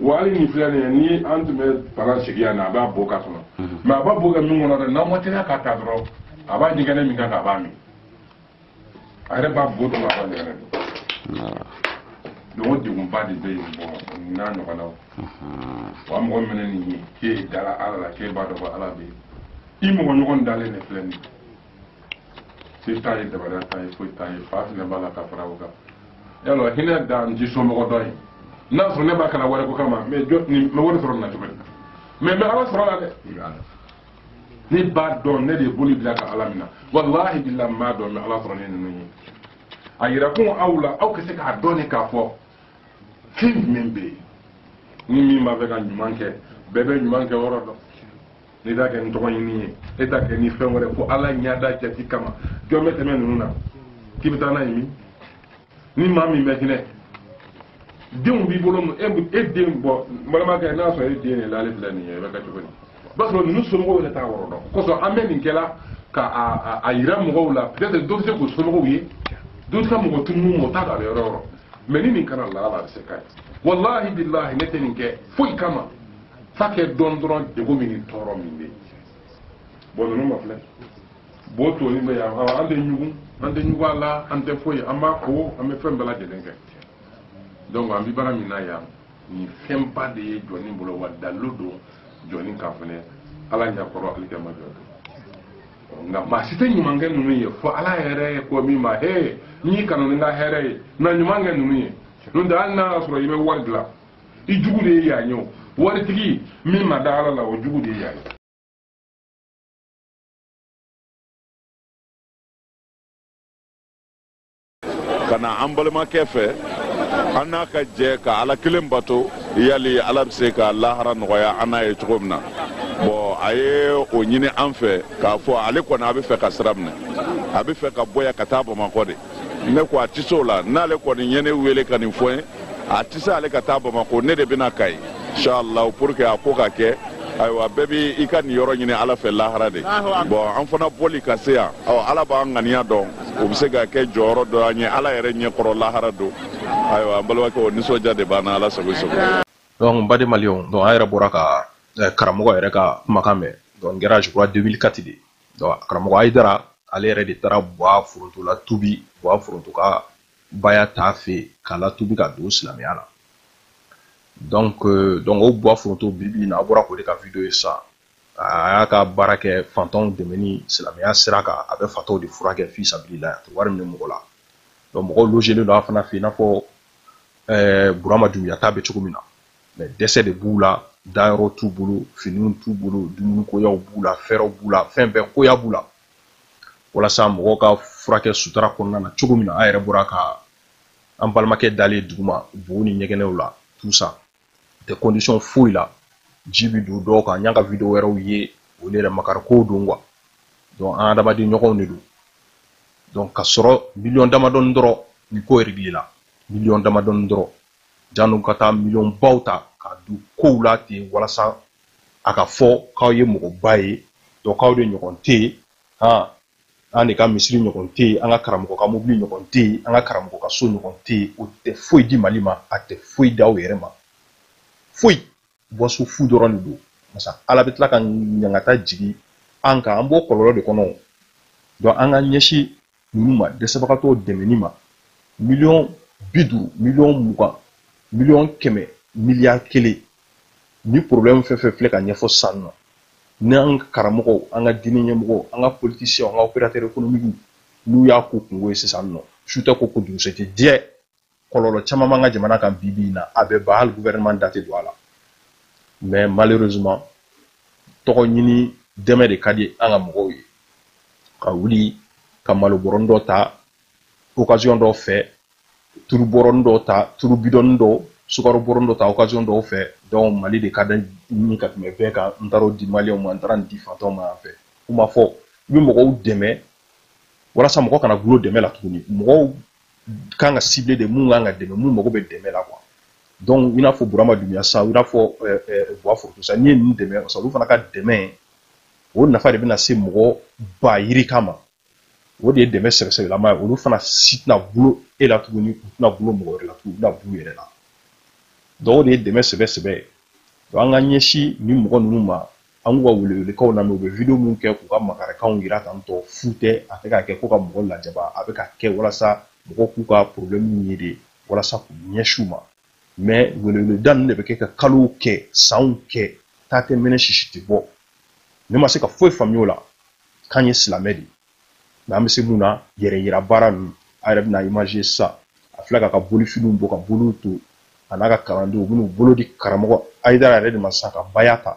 wa hali nin filɛ nin ye ni an tun bɛ palan sigi yan na a b'a bo k'a kɔnɔ mais a b'a bo kɛ min kɔnɔ dɛ n'an ma teliya k'a ta dɔrɔn a b'a ɲɛgɛnɛ min kan k'a b'a min a yɛrɛ b'a bo dun a b'a ɲɛgɛnɛ min donc o degunba de bɛ yen bon n'a ɲɔgɔnnaw wa mɔgɔ min ye nin ye k'e dala ala la k'e b'a dɔn ko ala bɛ yen i mɔgɔ ɲɔgɔn dalen de filɛ nin ye se t'a ye dabariya t'a ye foyi t'a ye fa fana b'a la ka fara o kan yala hinɛ da n t'i somɔgɔ dɔ ye n'a sɔrɔ ne b'a kana wari ko kama mɛ jɔ nin n bɛ wari sɔrɔ nin na cogo di mais n bɛ ala sɔrɔ a la dɛ ne b'a dɔn ne de ye boli bila ka ala minɛ walahi bilahi n b'a dɔn n bɛ ala sɔrɔ ne ninnu ye a yira kun aw la aw ka se k'a dɔn ne k'a fɔ fɛn jumɛn bɛ yen ni min b'a fɛ ka ɲuman kɛ bɛɛ bɛ ɲuman kɛ yɔrɔ dɔn n'i t'a kɛ ni tɔgɔ ɲini ye e t'a kɛ ni fɛn wɛrɛ fo ala ɲɛda jati kama jɔn bɛ tɛmɛ ninnu na k'i bɛ taa n'a ye min ni maa min bɛ hinɛ denw b'i bolo e e den bɔ n balimakɛ n'a sɔrɔ e den de la ale filɛ nin ye e bɛ kɛ cogo di i b'a sɔrɔ ninnu somɔgɔw yɛrɛ t'a yɔrɔ dɔn kosɔn an bɛ nin kɛla ka a a yira mɔgɔw la peut-être dɔ bɛ se k'u somɔgɔw ye dɔ bɛ se ka mɔgɔ tunun mɔgɔ t'a dɔn a bɛ yɔrɔ yɔrɔ mais ni nin kana laala a bɛ se ka ye walahi bilahi ne tɛ nin kɛ foyi kama f'a ka dɔn dɔrɔn degun min ni tɔɔrɔ min bɛ yen bon ninnu mafilɛ bo tonnen bɛ yan an tɛ ɲugun an tɛ ɲugun a la an tɛ foyi an b'a ko an bɛ fɛn bɛɛ lajɛlen kɛ donc an bɛ baara min na yan nin fɛnba de ye jɔnnin bolo wa dalilu don jɔnnin kan fɛnɛ ala ɲakɔrɔ alikiyama jɔ don nka maa si tɛ ɲuman kɛ ninnu ye fo ala yɛrɛ ye ko min ma he n'i kanu ni n ka hɛrɛ ye na ɲuman kɛ ninnu ye n'o tɛ hali n'a y'a sɔrɔ i bɛ wari dilan i jugu de ye yan ye o waritigi min ma da ala la o jugu de ye yan ye ka na an balimakɛ fɛ an n'a ka jɛ ka ala kelen bato yali ala bɛ se ka lahara nɔgɔya an n'a ye cogo min na bon a ye o ɲini an fɛ k'a fɔ ale kɔni a bɛ fɛ ka sira minɛ a bɛ fɛ ka bɔ yan ka taa bamakɔ de ne ko a tɛ se o la n'ale kɔni ye ne wele ka nin fɔ n ye a tɛ se ale ka taa bamako ne de bɛ na kayi inshallah pour que a ko ka kɛ ayiwa bɛɛ bɛ i ka niyɔrɔ ɲini ala fɛ lahara de bon an fana bɔli ka se yan ɔ ala b'an ŋaniya dɔn o bɛ se ka kɛ jɔyɔrɔ dɔ an ye ala yɛrɛ ɲɛkɔrɔ lahara don ayiwa an balimakɛ o nisɔndiya de b'an na ala sago i sago donc n baden maliyɛnw donc an yɛrɛ bɔra ka eh, karamɔgɔ yɛrɛ ka kumakan mɛn donc n kɛra je crois 2004 de karamɔgɔ ayidara ale yɛrɛ de taara buwa foronto latubi buwa foronto ka baya t'a fɛ k'a latubi ka don silamɛya la donc euh, donc o buwa foronto bi bi in na a bɔra k'o de ka video ye sisan a y'a ka baara kɛ fantanw dɛmɛni silamɛya sira kan a bɛ fataw de furakɛ fi sabilila a tɛ wari minɛ mɔgɔ la donc mɔgɔw logelen don a fana fɛ i n'a fɔ ɛɛ burama dunbiya ta bɛ cogo min na mais dɛsɛ de b'u la dayɔrɔ t'u bolo finiw t'u bolo dumunikoyaw b'u la fɛɛrɛw b'u la fɛn bɛɛ koya b'u la walasa mɔgɔw ka furakɛ sutura kɔnɔna na cogo min na an yɛrɛ bɔra ka an balimakɛ dalen ye duguma bow ni ɲɛgɛnɛw la tout ça tɛ condition foyi la ji bi don dɔw kan y'an ka video wɛrɛw ye o yɛrɛ makarikow don quoi donc an adamaden ɲɔgɔnw de don donc ka sɔrɔ miliyɔn damadɔni dɔrɔn nin ko réglé la miliyɔn damadɔni dɔrɔn janni ka taa miliyɔnbaw ta ka don kow la ten walasa a ka fɔ k'aw ye mɔgɔba ye donc k'aw de ɲɔgɔn tɛ yen han an de ka misiri ɲɔgɔn tɛ yen an ka karamɔgɔ ka mobili ɲɔgɔn tɛ yen an ka karamɔgɔ ka so ɲɔgɔn tɛ yen o tɛ foyi di mali ma a tɛ foyi di aw yɛrɛ ma foyi bɔsu fu dɔrɔn de don masa ala bɛ tila ka ɲangata jigin an kan an b'o kɔlɔlɔ de kɔnɔ donc an ka ɲɛsin ninnu ma dɛsɛbagatɔw dɛmɛni ma miliyɔn bi duuru miliyɔn mugan miliyɔn kɛmɛ miliyari kelen ni problème fɛn fɛn filɛ ka ɲɛfɔ sisan nɔ ni an ka karamɔgɔw an ka diinɛ ɲɛmɔgɔw an ka politiciens an ka opérateurs économiques n'u y'a k'u kunko ye sisan nɔ su tɛ ko ko dugusɛjɛ diɲɛ kɔlɔlɔ caman b'an ka jamana kan bi bi in na a bɛ ban hali gouvernement da tɛ don a la mais malheureusement tɔgɔ ɲini dɛmɛ de ka di an ka mɔgɔw ye ka wuli ka malo bɔrɔnin dɔ ta occasion dɔw fɛ turu bɔrɔnin dɔ ta turu bidɔnin dɔ sukaro bɔrɔnin dɔ ta occasion dɔw fɛ donc mali de ka di n ye ka tɛmɛ bɛɛ kan n taara o di maliyɛnw ma n taara nin di fantanw ma yan fɛ u ma fɔ i bɛ mɔgɔw dɛmɛ walasa mɔgɔ kana gulo dɛmɛ la tuguni mɔgɔw kan ka ciblé de mun kan ka dɛmɛ mun mago bɛ dɛmɛ la quoi donc i n'a fɔ burama dunbiya sa i n'a fɔ buwa foronto sa n'i ye ninnu dɛmɛ sa olu fana ka dɛmɛ o nafa de bɛna se mɔgɔ ba yirika ma o de ye dɛmɛ sɛbɛsɛbɛlama ye olu fana si tɛna gulo e la tuguni u tɛna gulo mɔgɔ wɛrɛ la tuguni u bɛna b'u yɛrɛ la donc o de ye dɛmɛ sɛbɛsɛbɛ ye donc an ka ɲɛsin nin mɔgɔ ninnu ma an k'u ka welewelekanw lamɛn u bɛ video minnu kɛ k'u ka makarikanw jira tan tɔ fu tɛ a tɛ ka kɛ ko ka mɔgɔ lajaba a bɛ ka kɛ walasa mɔgɔ k'u ka problème ye de walasa k'u ɲɛsin u ma mais weleweleda ninnu de bɛ kɛ ka kalow kɛ sanw kɛ ta tɛ mɛnɛ sisi tɛ bɔ ne ma se ka foyi faamuya o la k'an ye silamɛ de mais an bɛ se mun na yɛrɛ yira baara ninnu a yɛrɛ bɛna image ye sisan a filɛ k'a ka bolifiniw bɔ ka boliw to a n'a ka kalandenw u bɛn'u bolo di karamɔgɔ ayidara yɛrɛ de ma sisan ka baya ta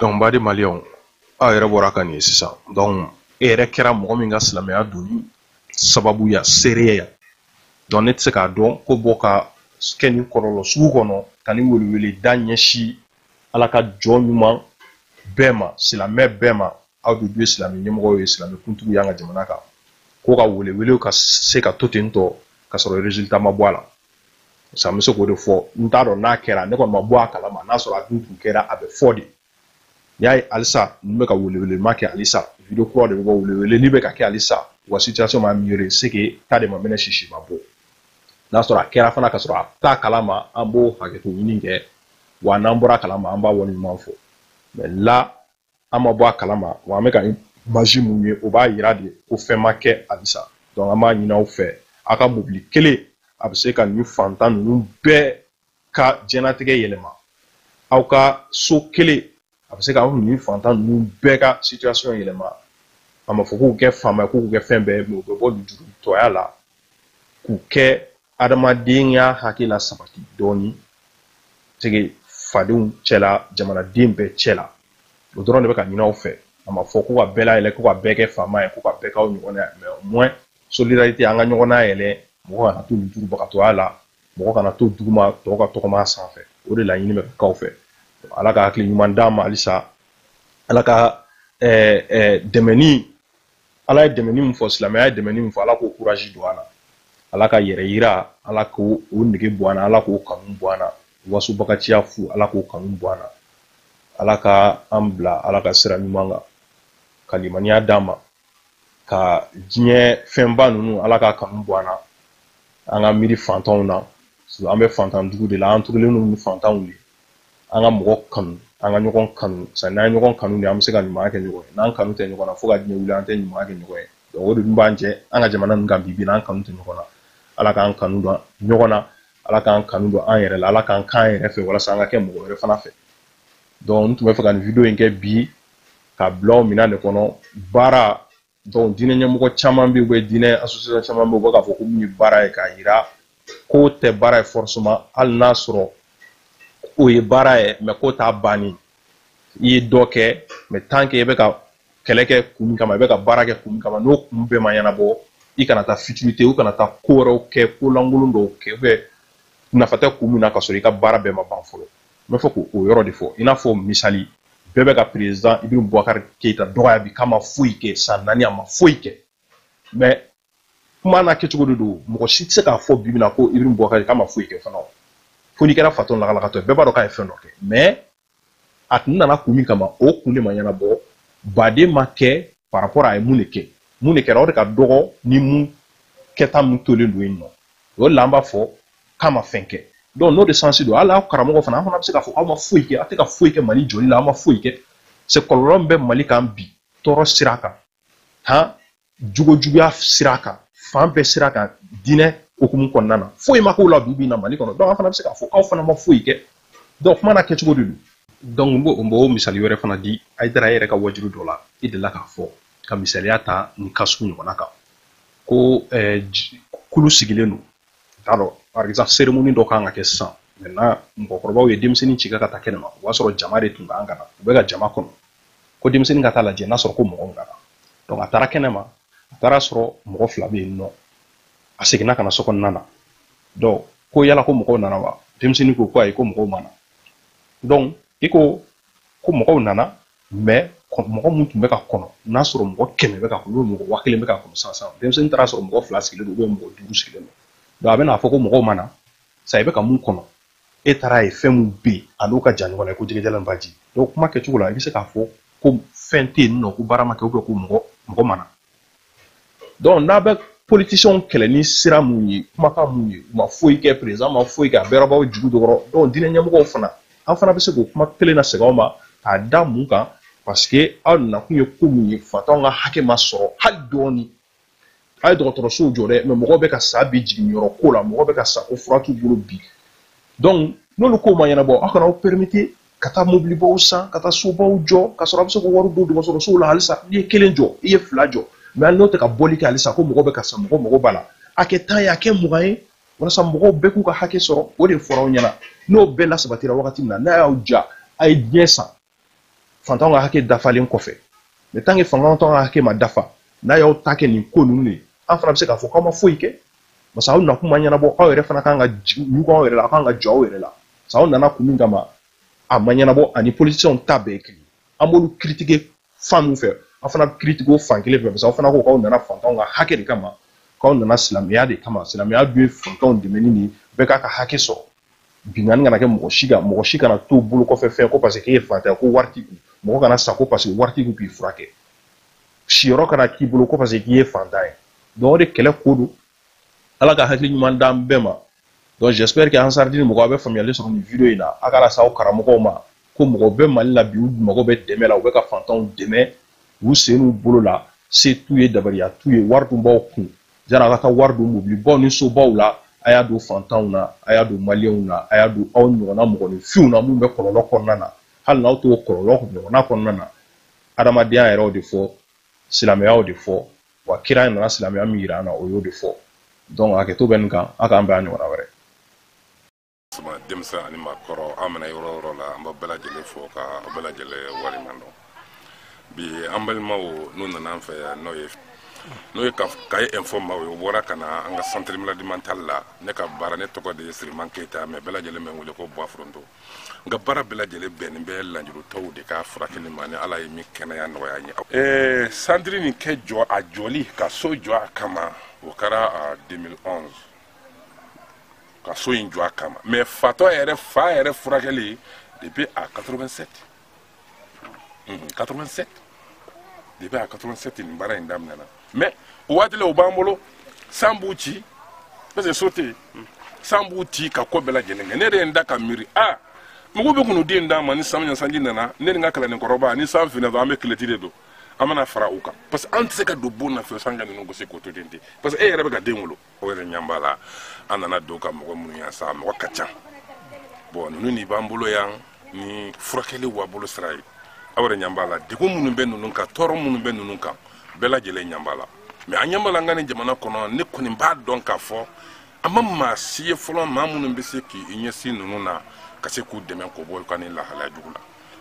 donc baden maliyɛnw aw yɛrɛ bɔra ka nin ye sisan donc e yɛrɛ kɛra mɔgɔ min ka silamɛya donni sababuya seereya ya donc ne tɛ se k'a dɔn ko bɔ ka kɛ nin kɔlɔlɔ sugu kɔnɔ ka nin weleweleda ɲɛsin ala ka jɔn ɲuman bɛɛ ma silamɛ bɛɛ ma aw de dun ye silamɛ ɲɛmɔgɔw ye silamɛ kuntigiw y'an ka jamana kan ko ka welewelew ka se ka to ten tɔ ka sɔrɔ résultat ma bɔ a la parce que an bɛ se k'o de fɔ n t'a dɔn n'a kɛra ne kɔni ma bɔ a kalama n'a sɔrɔ a dun tun kɛra a bɛ fɔ de n'i y'a ye halisa nin bɛ ka welewelema kɛ halisa video kura de bɛ bɔ weleweleli bɛ ka kɛ halisa wa situation ma meilleur c'est que ta de ma mɛnɛ sisi ma bɔ n'a sɔrɔ a kɛra fana ka sɔrɔ an t'a kalama an b'o hakɛto ɲini kɛ wa n'an bɔra a kalama an b'a waleɲuman fɔ mais là an ma bɔ a kalama wa an bɛ ka image mun ye o b'a yira de ko fɛn ma kɛ halisa donc an b'a ɲini aw fɛ aw ka mobili kelen a bɛ se ka nin fantan ninnu bɛɛ ka jɛnatigɛ yɛlɛma aw ka so kelen a bɛ se ka aw nin fantan ninnu bɛɛ ka situation yɛlɛma a ma fɔ k'u kɛ faama k'u kɛ fɛn bɛɛ ye u bɛ bɔ lujurutɔya la k'u kɛ adamadenya hakɛ lasabati dɔɔni c'est que fadenw cɛla jamanaden bɛɛ cɛla o dɔrɔn de bɛ ka ɲini aw fɛ a ma fɔ ko ka bɛɛ layɛlɛ ko ka bɛɛ kɛ faama ye ko ka bɛɛ k'aw ɲɔgɔn ye mais au moins solidarité an ka ɲɔgɔn nayɛlɛ mɔgɔ kana to lujurubagatɔya la mɔgɔ kana to duguma tɔw ka tɔgɔma sanfɛ o de laɲini bɛ ka k'aw fɛ ala ka hakili ɲuman d'an ma halisa ala ka dɛmɛni ala ye dɛmɛni min fɔ silamɛya ye dɛmɛni min fɔ ala k'o courage don an na ala ka yɛrɛyira ala k'o o nege bɔ an na ala k'o kanu bɔ an na wasobagaciya fu ala k'o kanu bɔ an na ala ka an bila ala ka sira ɲuman kan ka limaniya d'an ma ka diɲɛ fɛnba ninnu ala ka kanu bɔ an na an ka miiri fantanw na an bɛ fantan dugu de la an tugulen don ni fantanw ye an ka mɔgɔ kanu an ka ɲɔgɔn kanu sa n'an ye ɲɔgɔn kanu de an bɛ se ka ɲuman kɛ ɲɔgɔn ye n'an kanu tɛ ɲɔgɔn na fo ka diɲɛ wuli an tɛ ɲuman kɛ ɲɔgɔn ye donc o de dun b'an cɛ an ka jamana ninnu kan bi bi in na an kanu tɛ ɲɔgɔn na ala k'an kanu don ɲɔgɔn na ala k'an kanu don an yɛrɛ la ala k'an k'an yɛrɛ fɛ walasa an ka kɛ mɔgɔ wɛrɛ fana fɛ donc n tun bɛ fɛ ka nin video in kɛ bi ka bila o minɛn de kɔnɔ baara donc diinɛ ɲɛmɔgɔ caman bɛ yen u diinɛ association caman bɛ yen u bɛ k'a fɔ ko min ye baara ye k'a yira k'o tɛ baara ye forcément hali n'a sɔrɔ o ye baara ye mais k'o t'a banni i ye dɔ kɛ mais tant que i bɛ ka kɛlɛ kɛ kun min kama i bɛ ka baara kɛ kun min kama n'o kun bɛɛ ma ɲɛnabɔ i kana taa futilité i kana taa ko wɛrɛw kɛ ko lankolon dɔw kɛ ou bien nafa tɛ kun min na ka sɔrɔ i ka baara bɛɛ ma ban fɔlɔ n bɛ fɛ k'o yɔrɔ de fɔ i n'a fɔ misali bɛɛ bɛ ka président ibirahimu bubakari keyita dɔgɔya bi k'a ma foyi kɛ san naani a ma foyi kɛ mais kuma n'a kɛcogo de don mɔgɔ si tɛ se k'a fɔ bi bi in na ko ibirahimu bubakari k'a ma foyi kɛ fana fo n'i kɛra fatɔ lakalakatɔ ye bɛɛ b'a dɔn k'a ye fɛn dɔ kɛ mais a tun nana kun min kama o kun de ma ɲɛnabɔ ba de ma kɛ par rapport a ye mun de kɛ mun de kɛra o de ka dɔgɔ ni mun kɛta min tolen don yen nɔ o la an b'a fɔ k'a ma fɛn kɛ donc n'o de sens don hali aw karamɔgɔ fana an fana bɛ se k'a fɔ aw ma foyi kɛ aw tɛ ka foyi kɛ mali jɔli la aw ma foyi kɛ c'est kɔlɔlɔ min bɛ mali kan bi tɔɔrɔ sira kan han jogojuguya sira kan fan bɛɛ sira kan diinɛ hukumu kɔnɔna na foyi ma k'o la bi bi na mali kɔnɔ donc an fana bɛ se k'a fɔ aw fana ma foyi kɛ donc kuma n'a kɛcogo de don donc n b'o n b'o misali wɛrɛ fana di hayidara yɛrɛ ka waajuli dɔ la i delila k'a fɔ ka misaliya ta nin cas sugu ɲɔgɔnna kan ko kulu sigilen don t'a dɔn par exemple cérémonie dɔ kan ka kɛ sisan maintenant mɔgɔkɔrɔbaw ye denmisɛnnin ci ka taa kɛnɛma o b'a sɔrɔ jama de tun kan ka na u bɛ ka jama kɔnɔ ko denmisɛnnin ka taa lajɛ n'a sɔrɔ ko mɔgɔw nana donc a taara kɛnɛma a taara sɔrɔ mɔgɔ fila bɛ yen nɔ a seginna ka na so kɔnɔna na donc ko yala ko mɔgɔw nana wa denmisɛnnin ko ko ayi ko mɔgɔw ma na donc i ko ko mɔgɔw nana mais mɔgɔ mun tun bɛ ka kɔnɔ n'a sɔrɔ mɔgɔ kɛmɛ bɛ ka kɔnɔ mɔgɔ waa kelen bɛ ka kɔnɔ sisan sisan denmisɛnnin taara sɔrɔ mɔgɔ fila sigilen don ou bien mɔgɔ duuru sigilen don donc a bɛna fɔ ko mɔgɔw ma na sa i bɛ ka mun kɔnɔ e taara ye fɛn min bɛ yen a n'o ka jan ɲɔgɔn na ko jɛgɛjalan baji donc kuma kɛcogo la i bɛ se k'a fɔ ko fɛn tɛ yen nɔ ko baara ma kɛ ou bien ko mɔgɔ ma na donc n'a bɛ politiciens kɛlɛ ni sira mun ye kumakan mun ye u ma foyi kɛ président ma foyi kɛ a bɛɛ baw jugu do kɔrɔ donc diinɛ ɲɛmɔgɔw fana an fana bɛ se k'o kuma kelen lasegin aw ma k'a da mun kan parce que aw nakun ye ko mun ye fantanw ka hakɛ ma sɔrɔ hali dɔɔni a ye dɔgɔtɔrɔsow jɔ dɛ mais mɔgɔw bɛ ka sa bi jiginniyɔrɔ ko la mɔgɔw bɛ ka sa ko fura t'u bolo bi donc n'olu kow ma ɲɛnabɔ aw kana aw permettre ka taa mobilibaw san ka taa sobaw jɔ ka sɔrɔ a bɛ se k'o wari don dɔgɔtɔrɔsow la halisa n'i ye kelen jɔ i ye fila jɔ mais hali n'o tɛ ka bɔli kɛ halisa ko mɔgɔ bɛ ka sa mɔgɔ mago b'a la a kɛ tan ye a kɛ mugan ye walasa mɔgɔw bɛɛ k'u ka hakɛ sɔrɔ o de fɔra aw ɲɛna n'o bɛɛ lasabatira wagati min na n'a y'aw diya a ye diɲɛ san fantanw ka hakɛ dafalen kɔfɛ mais tant que fantanw ka hakɛ ma dafa n'a y'aw ta kɛ nin ko ninnu de ye an fana bɛ se k'a fɔ k'aw ma foyi kɛ parce que aw nakun ma ɲɛnabɔ aw yɛrɛ fana kan ka ɲugun aw yɛrɛ la aw kan ka jɔ aw yɛrɛ la parce que aw nana kun min kama a ma ɲɛnabɔ ani politiciens ta bɛɛ kelen an b'olu critiquer fan min fɛ aw fana bɛ critiquer o fan kelen fɛ parce que aw fana ko k'aw nana fantanw ka hakɛ de kama k'aw nana silamɛya de kama silamɛya dun ye fantanw dɛmɛni de ye bɛɛ k'a ka hakɛ sɔrɔ binkanni kana kɛ mɔgɔ si kan mɔgɔ si kana to bolo kɔfɛ fɛn ko parce que k'e ye fantan ye ko wari t'i kun mɔgɔ kana sa ko parce que wari t'i kun k'i furakɛ siyɔrɔ kana k'i bolo ko parce que k'i ye fantan ye donc o de kɛlɛ ko don ala ka hakili ɲuman d'an bɛɛ ma donc j'espère que ansardini mɔgɔ a bɛ faamuyali sɔrɔ nin video in na a k'a lase aw karamɔgɔw ma ko mɔgɔ bɛ mali la bi u mago bɛ dɛmɛ la u bɛ ka fantanw dɛmɛ u sen n'u bolo la se t'u ye dabaliya t'u ye wari dun b'aw kun yani a ka taa wari don mobilibaw ni sobaw la a y'a don fantanw na a y'a don maliyɛnw na a y'a don aw ɲɔgɔnna mɔgɔninfinw na minnu bɛ kɔlɔlɔ kɔnɔna na hali n'aw t'o kɔlɔlɔ ɲɔgɔnna kɔnɔna na adamadenya yɛrɛ y'o de fɔ silamɛya y'o de fɔ wa kira nana silamɛya min yira an na o y'o de fɔ donc hakɛto bɛ nin kan a k'an bɛn a ɲɔgɔnna wɛrɛ Sama denmisɛn ani maakɔrɔ an mana yɔrɔ yɔrɔ la an bɛ bɛɛ lajɛlen fo ka bɛɛ lajɛlen waleɲuman dɔn bi an balimaw n'u nana an fɛ yan n'o ye Kayes info maaw ye o bɔra ka na an ka centre maladie mentale la ne ka baara ne tɔgɔ de ye Siriman Keyita mais bɛɛ lajɛlen bɛ n wele ko Buwaforonto n ka baara bɛɛ lajɛlen bɛnnen bɛ lanjurutɔw de ka furakɛli ma ni Ala ye min kɛnɛya nɔgɔya n ye ɛɛ centre nin kɛ jɔ a jɔli ka so jɔ a kama o kɛra 2011 ka so in jɔ a kama mais fatɔ yɛrɛ fa yɛrɛ furakɛli depuis à 87 87 depuis à 87 nin baara in daminɛna mais o waati la o b'an bolo san b'u ci parce que so tɛ yen san b'u ci ka ko bɛɛ lajɛlen kɛ ne de ye n da ka miiri a mɔgɔw bɛ k'u den d'an ma ni san sanji nana ne ni n ka kalanden kɔrɔba ni san finna dɔrɔn an bɛ kilɔti de don an bɛ na fara u kan parce que an tɛ se ka don bon na fiyewu san ka ninnu gosi k'o to ten ten parce que e yɛrɛ bɛ ka den wolo o yɛrɛ ɲan b'a la an nana don ka mɔgɔ minnu yan sa mɔgɔ ka ca bon ninnu ni b'an bolo yan ni furakɛli b'a bolo sira ye aw yɛrɛ ɲan b'a la degun minnu bɛ ninnu kan tɔɔrɔ minnu bɛ ninnu kan bɛɛ lajɛlen ɲan b'a la mais an ɲan b'a la an ka nin jamana kɔnɔ ne kɔni b'a dɔn k'a fɔ an ma maa si ye fɔlɔ maa minnu bɛ se k'i ɲɛsin ninnu na ka se k'u dɛmɛ k'o bɔ ka nin lahalaya jugu la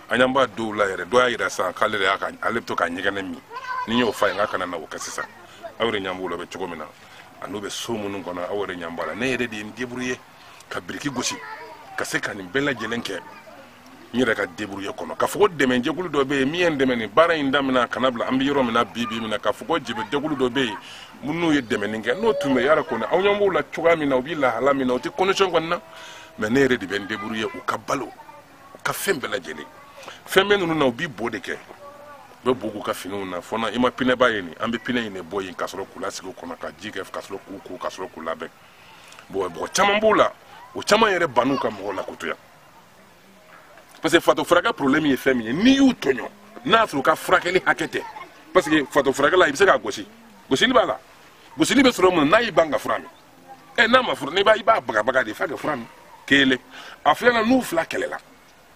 aw ɲan b'a dɔw la yɛrɛ dɔ y'a yira sisan k'ale de y'a ka ale bɛ to k'a ɲɛgɛnɛ min ne y'o f'a ye n k'a kana na o kɛ sisan aw yɛrɛ ɲan b'o la bɛ cogo min na a n'u bɛ so minnu kɔnɔ aw yɛrɛ ɲan b'a la ne yɛrɛ de ye n débrouiller ka biriki gosi ka se ka nin bɛɛ lajɛlen kɛ n yɛrɛ ka débrouiller kɔnɔ k'a fɔ ko dɛmɛjɛkulu dɔ bɛ yen min ye n dɛmɛ nin baara in damina ka na bila an bɛ yɔrɔ min na bi bi min na k'a fɔ ko dɛmɛjɛkulu dɔ bɛ yen minnu ye dɛmɛni kɛ n'o tun bɛ yara kɔni aw ɲɛ b'o la cogoya min na u bɛ lahala min na u tɛ condition kɔni na mais ne yɛrɛ de bɛ n débrouiller u ka balo ka fɛn bɛɛ lajɛlen fɛn bɛ ninnu na u b'i bo de kɛ u bɛ bo k'u ka finiw na fɔ na i ma pinɛba ye nin an bɛ pinɛ in de bɔ yen ka sɔrɔ k'u lasigi o kɔnɔ ka ji kɛ ka sɔrɔ k'u ko ka sɔrɔ k'u labɛn bon mɔgɔ caman b'o la o caman yɛrɛ ban'u ka mɔgɔw la kotoya parce que fatɔ furakɛ problème ye fɛn min ye n'i y'u tɔɲɔ n'a y'a sɔrɔ u ka furakɛli hakɛ tɛ parce que fatɔ furakɛ la i bɛ se k'a gosi gosili b'a la gosili bɛ sɔrɔ mun na n'a y'i ban ka fura min ɛ n'a ma fura min i b'a bagabaga de f'a ka fura min kelen a filanan n'u fila kɛlɛla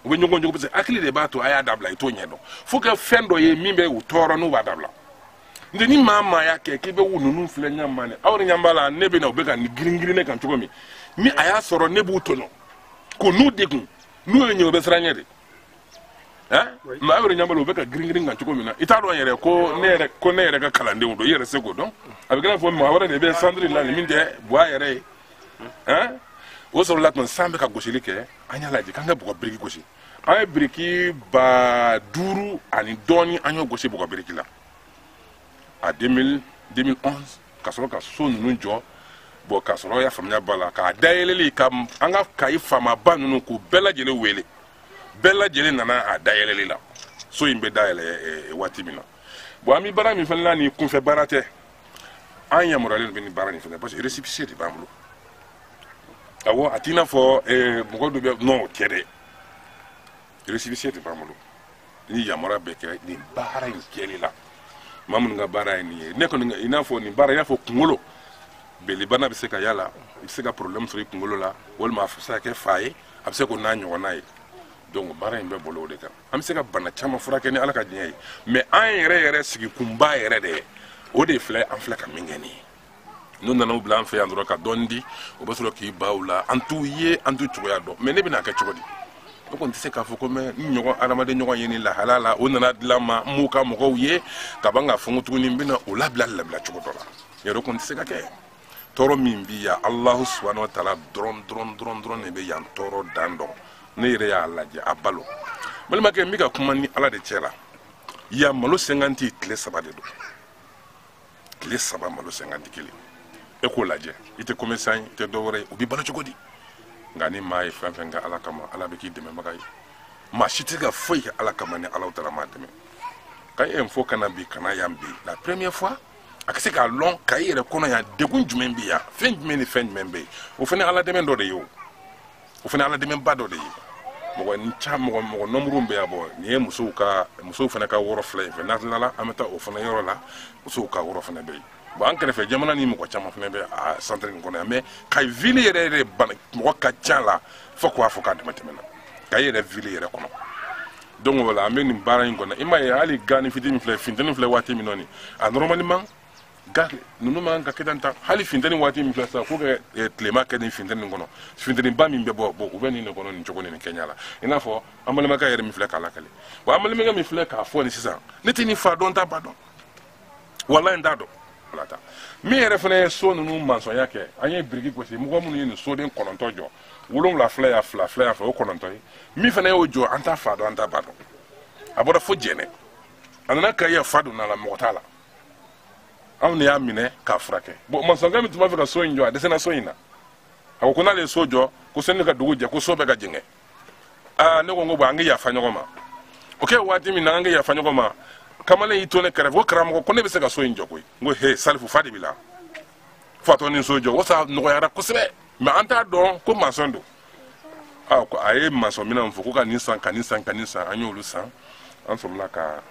u bɛ ɲɔgɔn jogin parce que hakili de b'a to a y'a dabila i t'o ɲɛ dɔn fo kɛ fɛn dɔ ye min bɛ u tɔɔrɔ n'u b'a dabila nɔntɛ ni maa maa y'a kɛ k'i bɛ u ninnu filɛ ɲɛ ma ne aw ni ɲɛ b'a la ne bɛ na u bɛ ka girin girin ne kan cogo min ni a y'a sɔrɔ ne b'u tɔɲɔ ko n'u degun n'u ye n ye u bɛ siran n ɲɛ de eh? mais aw yɛrɛ ɲɛ b'a la u bɛ ka girin girin kan cogo min na i t'a dɔn yɛrɛ ko ne yɛrɛ ko ne yɛrɛ ka kalandenw don i yɛrɛ se k'o dɔn a bɛ kɛ n'a fɔ maa wɛrɛ de bɛ centre la nin min tɛ buwa yɛrɛ ye eh? o sɔrɔla tuma san bɛ ka gosili kɛ an y'a lajɛ k'an ka bɔgɔ biriki gosi an ye biriki ba duuru ani dɔɔni an y'o gosi bɔgɔ biriki la a 2000 2011 ka sɔrɔ ka so ninnu jɔ bon ka sɔrɔ y'a faamuya b'a la k'a dayɛlɛli kɛ an ka kayi faamaba ninnu k'u bɛɛ lajɛlen wele bɛɛ lajɛlen nana a dayɛlɛli la so in bɛ dayɛlɛ eh, waati min na bon an bɛ baara min fana la nin kunfɛ baara tɛ an yamaruyalen bɛ nin baara nin fana parce que récépissé de b'an bolo awɔ a t'i n'a fɔ eh, mɔgɔ dɔ bɛ non o tɛ dɛ récépissé de b'an bolo ni yamaruya bɛ kɛ nin baara in kɛli la maa minnu ka baara ye nin ye ne kɔni i n'a fɔ nin baara i n'a fɔ kunkolo belibana bɛ se ka y'a la i bɛ se ka problème sɔrɔ i kunkolo la walima a bɛ se ka kɛ fa ye a bɛ se k'o n'a ɲɔgɔnna ye donc baara in bɛ boli o de kan an bɛ se ka bana caman furakɛ ni ala ka diɲɛ ye mais an yɛrɛ yɛrɛ sigikunba yɛrɛ de o de filɛ an filɛ ka min kɛ nin ye n'u nana u bila an fɛ yan dɔrɔn ka dɔɔni di u bɛ sɔrɔ k'i ban u la an t'u ye an t'u cogoya dɔn mais ne bɛna kɛ cogo di ne kɔni tɛ se k'a fɔ ko n bɛ n ɲɔgɔn adamaden ɲɔgɔn ye nin lahala la o nana dilan ma n m'u ka mɔgɔw ye ka ban k'a fɔ n ko tuguni n bɛna o labila labila cogo dɔ la yɛrɛ kɔni tɛ se ka kɛ tɔɔrɔ min bi yan alahu subahana wa taala dɔrɔn dɔrɔn dɔrɔn dɔrɔn de bɛ yan tɔɔrɔ dan dɔn ne yɛrɛ y'a lajɛ a balo balimakɛ n bɛ ka kuma ni ala de cɛ la yan malo cinquante tile saba de don tile saba malo cinquante kelen e k'o lajɛ i tɛ commerçant ye i tɛ dɔwɛrɛ ye u bɛ balo cogo di nka ni maa ye fɛn fɛn kɛ ala kama ala bɛ k'i dɛmɛbaga ye maa si tɛ ka foyi kɛ ala kama ni alahu taala m'a dɛmɛ ka e fo ka na bi ka na yan bi la première fois a ka se k'a lɔn kayi yɛrɛ kɔnɔ yan degun jumɛn bɛ yan fɛn jumɛn ni fɛn jumɛn bɛ yen o fana ala dɛmɛ dɔ de ye o o fana ala dɛmɛba dɔ de ye mɔgɔ ni ca mɔgɔ mɔgɔ nɔmuruw bɛ yan bon nin ye musow ka musow fana ka wɔrɔ filɛ nin fɛ n'a tilala an bɛ taa o fana yɔrɔ la musow ka wɔrɔ fana bɛ yen bon an kɛrɛfɛ jamana ni mɔgɔ caman fana bɛ a centre nin kɔnɔ yan mais kayi ville yɛrɛ yɛrɛ bana mɔgɔ ka ca a la fo k'a fɔ k'a dama tɛmɛna kayi yɛrɛ ville yɛrɛ kɔnɔ donc voilà an bɛ nin baara in kɔnɔ i m'a ye hali ga nin fitini min filɛ finteni filɛ waati min nɔni a normalement ga ninnu man ka kɛ tan tan hali finteni waati min filɛ sisan k'u kɛ eh, tilema kɛ nin finteni kɔnɔ finteniba min bɛ bɔ bon u bɛ nin de kɔnɔ nin cogo nin kɛɲɛ la i n'a fɔ an balimakɛ yɛrɛ min filɛ k'a lakali wa an balimakɛ min filɛ k'a fɔ nin sisan ne tɛ nin fa dɔn n t'a ba dɔn walahi n t'a dɔn ala ta min yɛrɛ fana ye so ninnu mansɔnya kɛ an ye biriki gosi mɔgɔ minnu ye nin soden kɔnɔntɔn jɔ wolonwula filɛ yan fila filɛ yan fɛ o kɔnɔntɔn ye min fana y'o jɔ an t'a fa dɔn an t'a ba dɔn a bɔra fo jɛnɛ a nana kayi fa donna a la mɔgɔ t'a la anw de y'a minɛ k'a furakɛ bon mansɔnkɛ min tun b'a fɛ ka so in jɔ a dɛsɛra so in na a ko ko n'ale ye so jɔ ko sani ka dugu jɛ ko so bɛ ka jɛngɛ aa ne ko n ko bon an ka yafa ɲɔgɔn ma o kɛ waati min na an ka yafa ɲɔgɔn ma kamalen y'i to ne kɛrɛfɛ ko karamɔgɔ ko ne bɛ se ka so in jɔ koyi n ko he salifu fa de b'i la fatɔ ni so jɔ o sa nɔgɔyara kosɛbɛ mais an t'a dɔn ko masɔn don aa ko a ye masɔn minɛnw fɔ ko ka nin san ka nin san ka nin san an y'olu san an sɔrɔla ka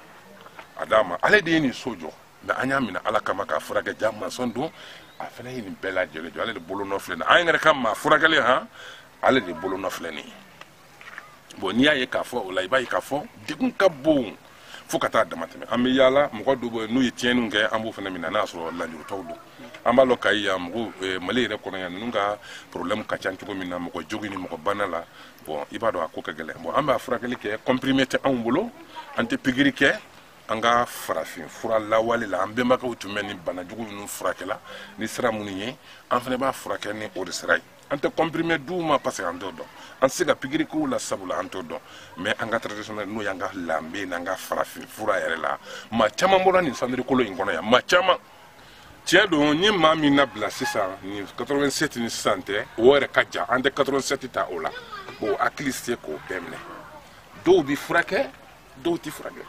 a d'a ma ale de ye nin so jɔ mais an y'a minɛ ala kama k'a furakɛ ja masɔn don a fana ye nin bɛɛ lajɛlen jɔ ale de bolo nɔ filɛ nin an yɛrɛ ka maa furakɛlen han ale de bolonɔ filɛ nin ye bon n'i y'a ye k'a fɔ o la i b'a ye k'a fɔ degun ka bon fo ka taa damatɛmɛ an bɛ yaala mɔgɔ dɔw bɛ n'u ye tiɲɛniw kɛ an b'o fana minɛ n'a sɔrɔ lujuratɔw don an b'a lɔn kayi yan mɔgɔ eh, mali yɛrɛ kɔnɔ yan ninnu ka problème ka ca cogo min na mɔgɔ jogin ni mɔgɔ bana la bon i b'a dɔn a ko ka gɛlɛn bon an b'a furakɛli kɛ comprimé tɛ anw bolo an tɛ pikiri kɛ an ka farafin fura lawale la an bɛnbakɛw tun bɛ nin bana jugu ninnu furakɛla ni sira minnu ye an fana b'a furakɛ ni o de sira ye an tɛ comprimé d'u ma parce que an t'o dɔn an tɛ se ka pikiri k'u la sabula an t'o dɔn mais an ka traditionnel n'o y'an ka lanbe n'an ka farafin fura yɛrɛ la maa caman bɔra nin centre kolo in kɔnɔ yan maa caman tiɲɛ don ni maa min nabila sisan ni 87 ni sisan tɛ o yɛrɛ ka jan an tɛ 87 ta o la bon hakili se k'o bɛɛ minɛ dɔw bi furakɛ dɔw ti furakɛ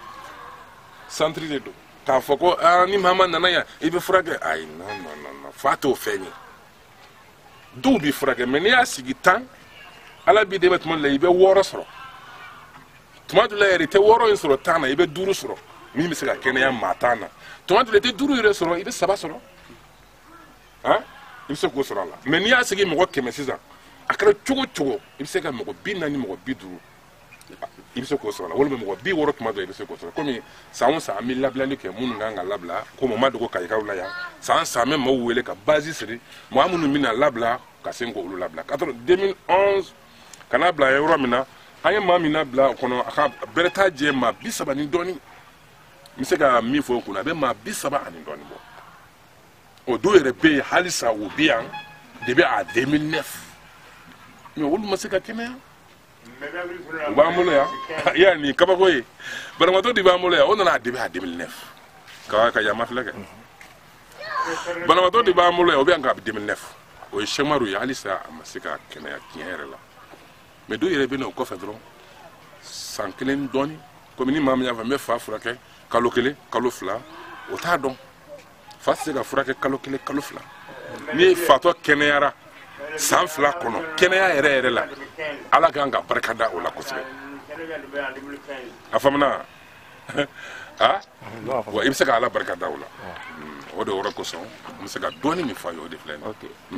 centre de don k'a fɔ ko ni maa o maa nana yan i bɛ furakɛ ayi non non non fa t'o fɛn ye dɔw bi furakɛ mais n'i y'a sigi tan ala b'i dɛmɛ tuma dɔ la i bɛ wɔɔrɔ sɔrɔ tuma dɔ la yɛrɛ i tɛ wɔɔrɔ in sɔrɔ tan na i bɛ duuru sɔrɔ min bɛ se ka kɛnɛya maa tan na tuma dɔ la i tɛ duuru yɛrɛ sɔrɔ i bɛ saba sɔrɔ han i bɛ se k'o sɔrɔ a la mais n'i y'a sigi mɔgɔ kɛmɛ sisan a kɛra cogo cogo i bɛ se ka mɔgɔ bi naani mɔgɔ bi duuru i bɛ se k'o sɔrɔ a la walima mɔgɔ bi wɔɔrɔ tuma dɔ i bɛ se k'o sɔrɔ komi san o san an bɛ labilali kɛ minnu kan ka labila komi o ma dogo kayikaw la yan san san an bɛ maaw wele ka bâche siri maa minnu bɛna labila ka se k'olu labila ka sɔrɔ 2011 ka n'a bila yɔrɔ min na an ye maa min labila o kɔnɔ a ka bɛrɛ t'a jɛ maa bi saba ni dɔɔni n bɛ se ka min fɔ o kunna a bɛ maa bi saba ani dɔɔni bɔ o dɔw yɛrɛ bɛ yen halisa o bɛ yan depuis en 2009 mais olu ma se ka kɛnɛya. u b'an bolo yan i ye nin kabako ye banabagatɔ de b'an bolo yan o nana a depuis en 2009 ka yama filɛ kɛ banabagatɔ de b'an bolo yan o bɛ yan kabi 2009 o ye sɛmaru ye halisa a ma se ka kɛnɛya tiɲɛ yɛrɛ la mais dɔw yɛrɛ bɛ na o kɔfɛ dɔrɔn san kelen dɔɔni komi ni maa min y'a fɔ n bɛ fa furakɛ kalo kelen kalo fila o t'a dɔn fa tɛ se ka furakɛ kalo kelen kalo fila ni fatɔ kɛnɛyara san fila kɔnɔ kɛnɛya yɛrɛ yɛrɛ la ala kan ka barika da o la kosɛbɛ a faamuna a wa i bɛ se ka ala barika da o la o de yɔrɔ kosɔn n bɛ se ka dɔɔni min fɔ a ye o de filɛ nin ye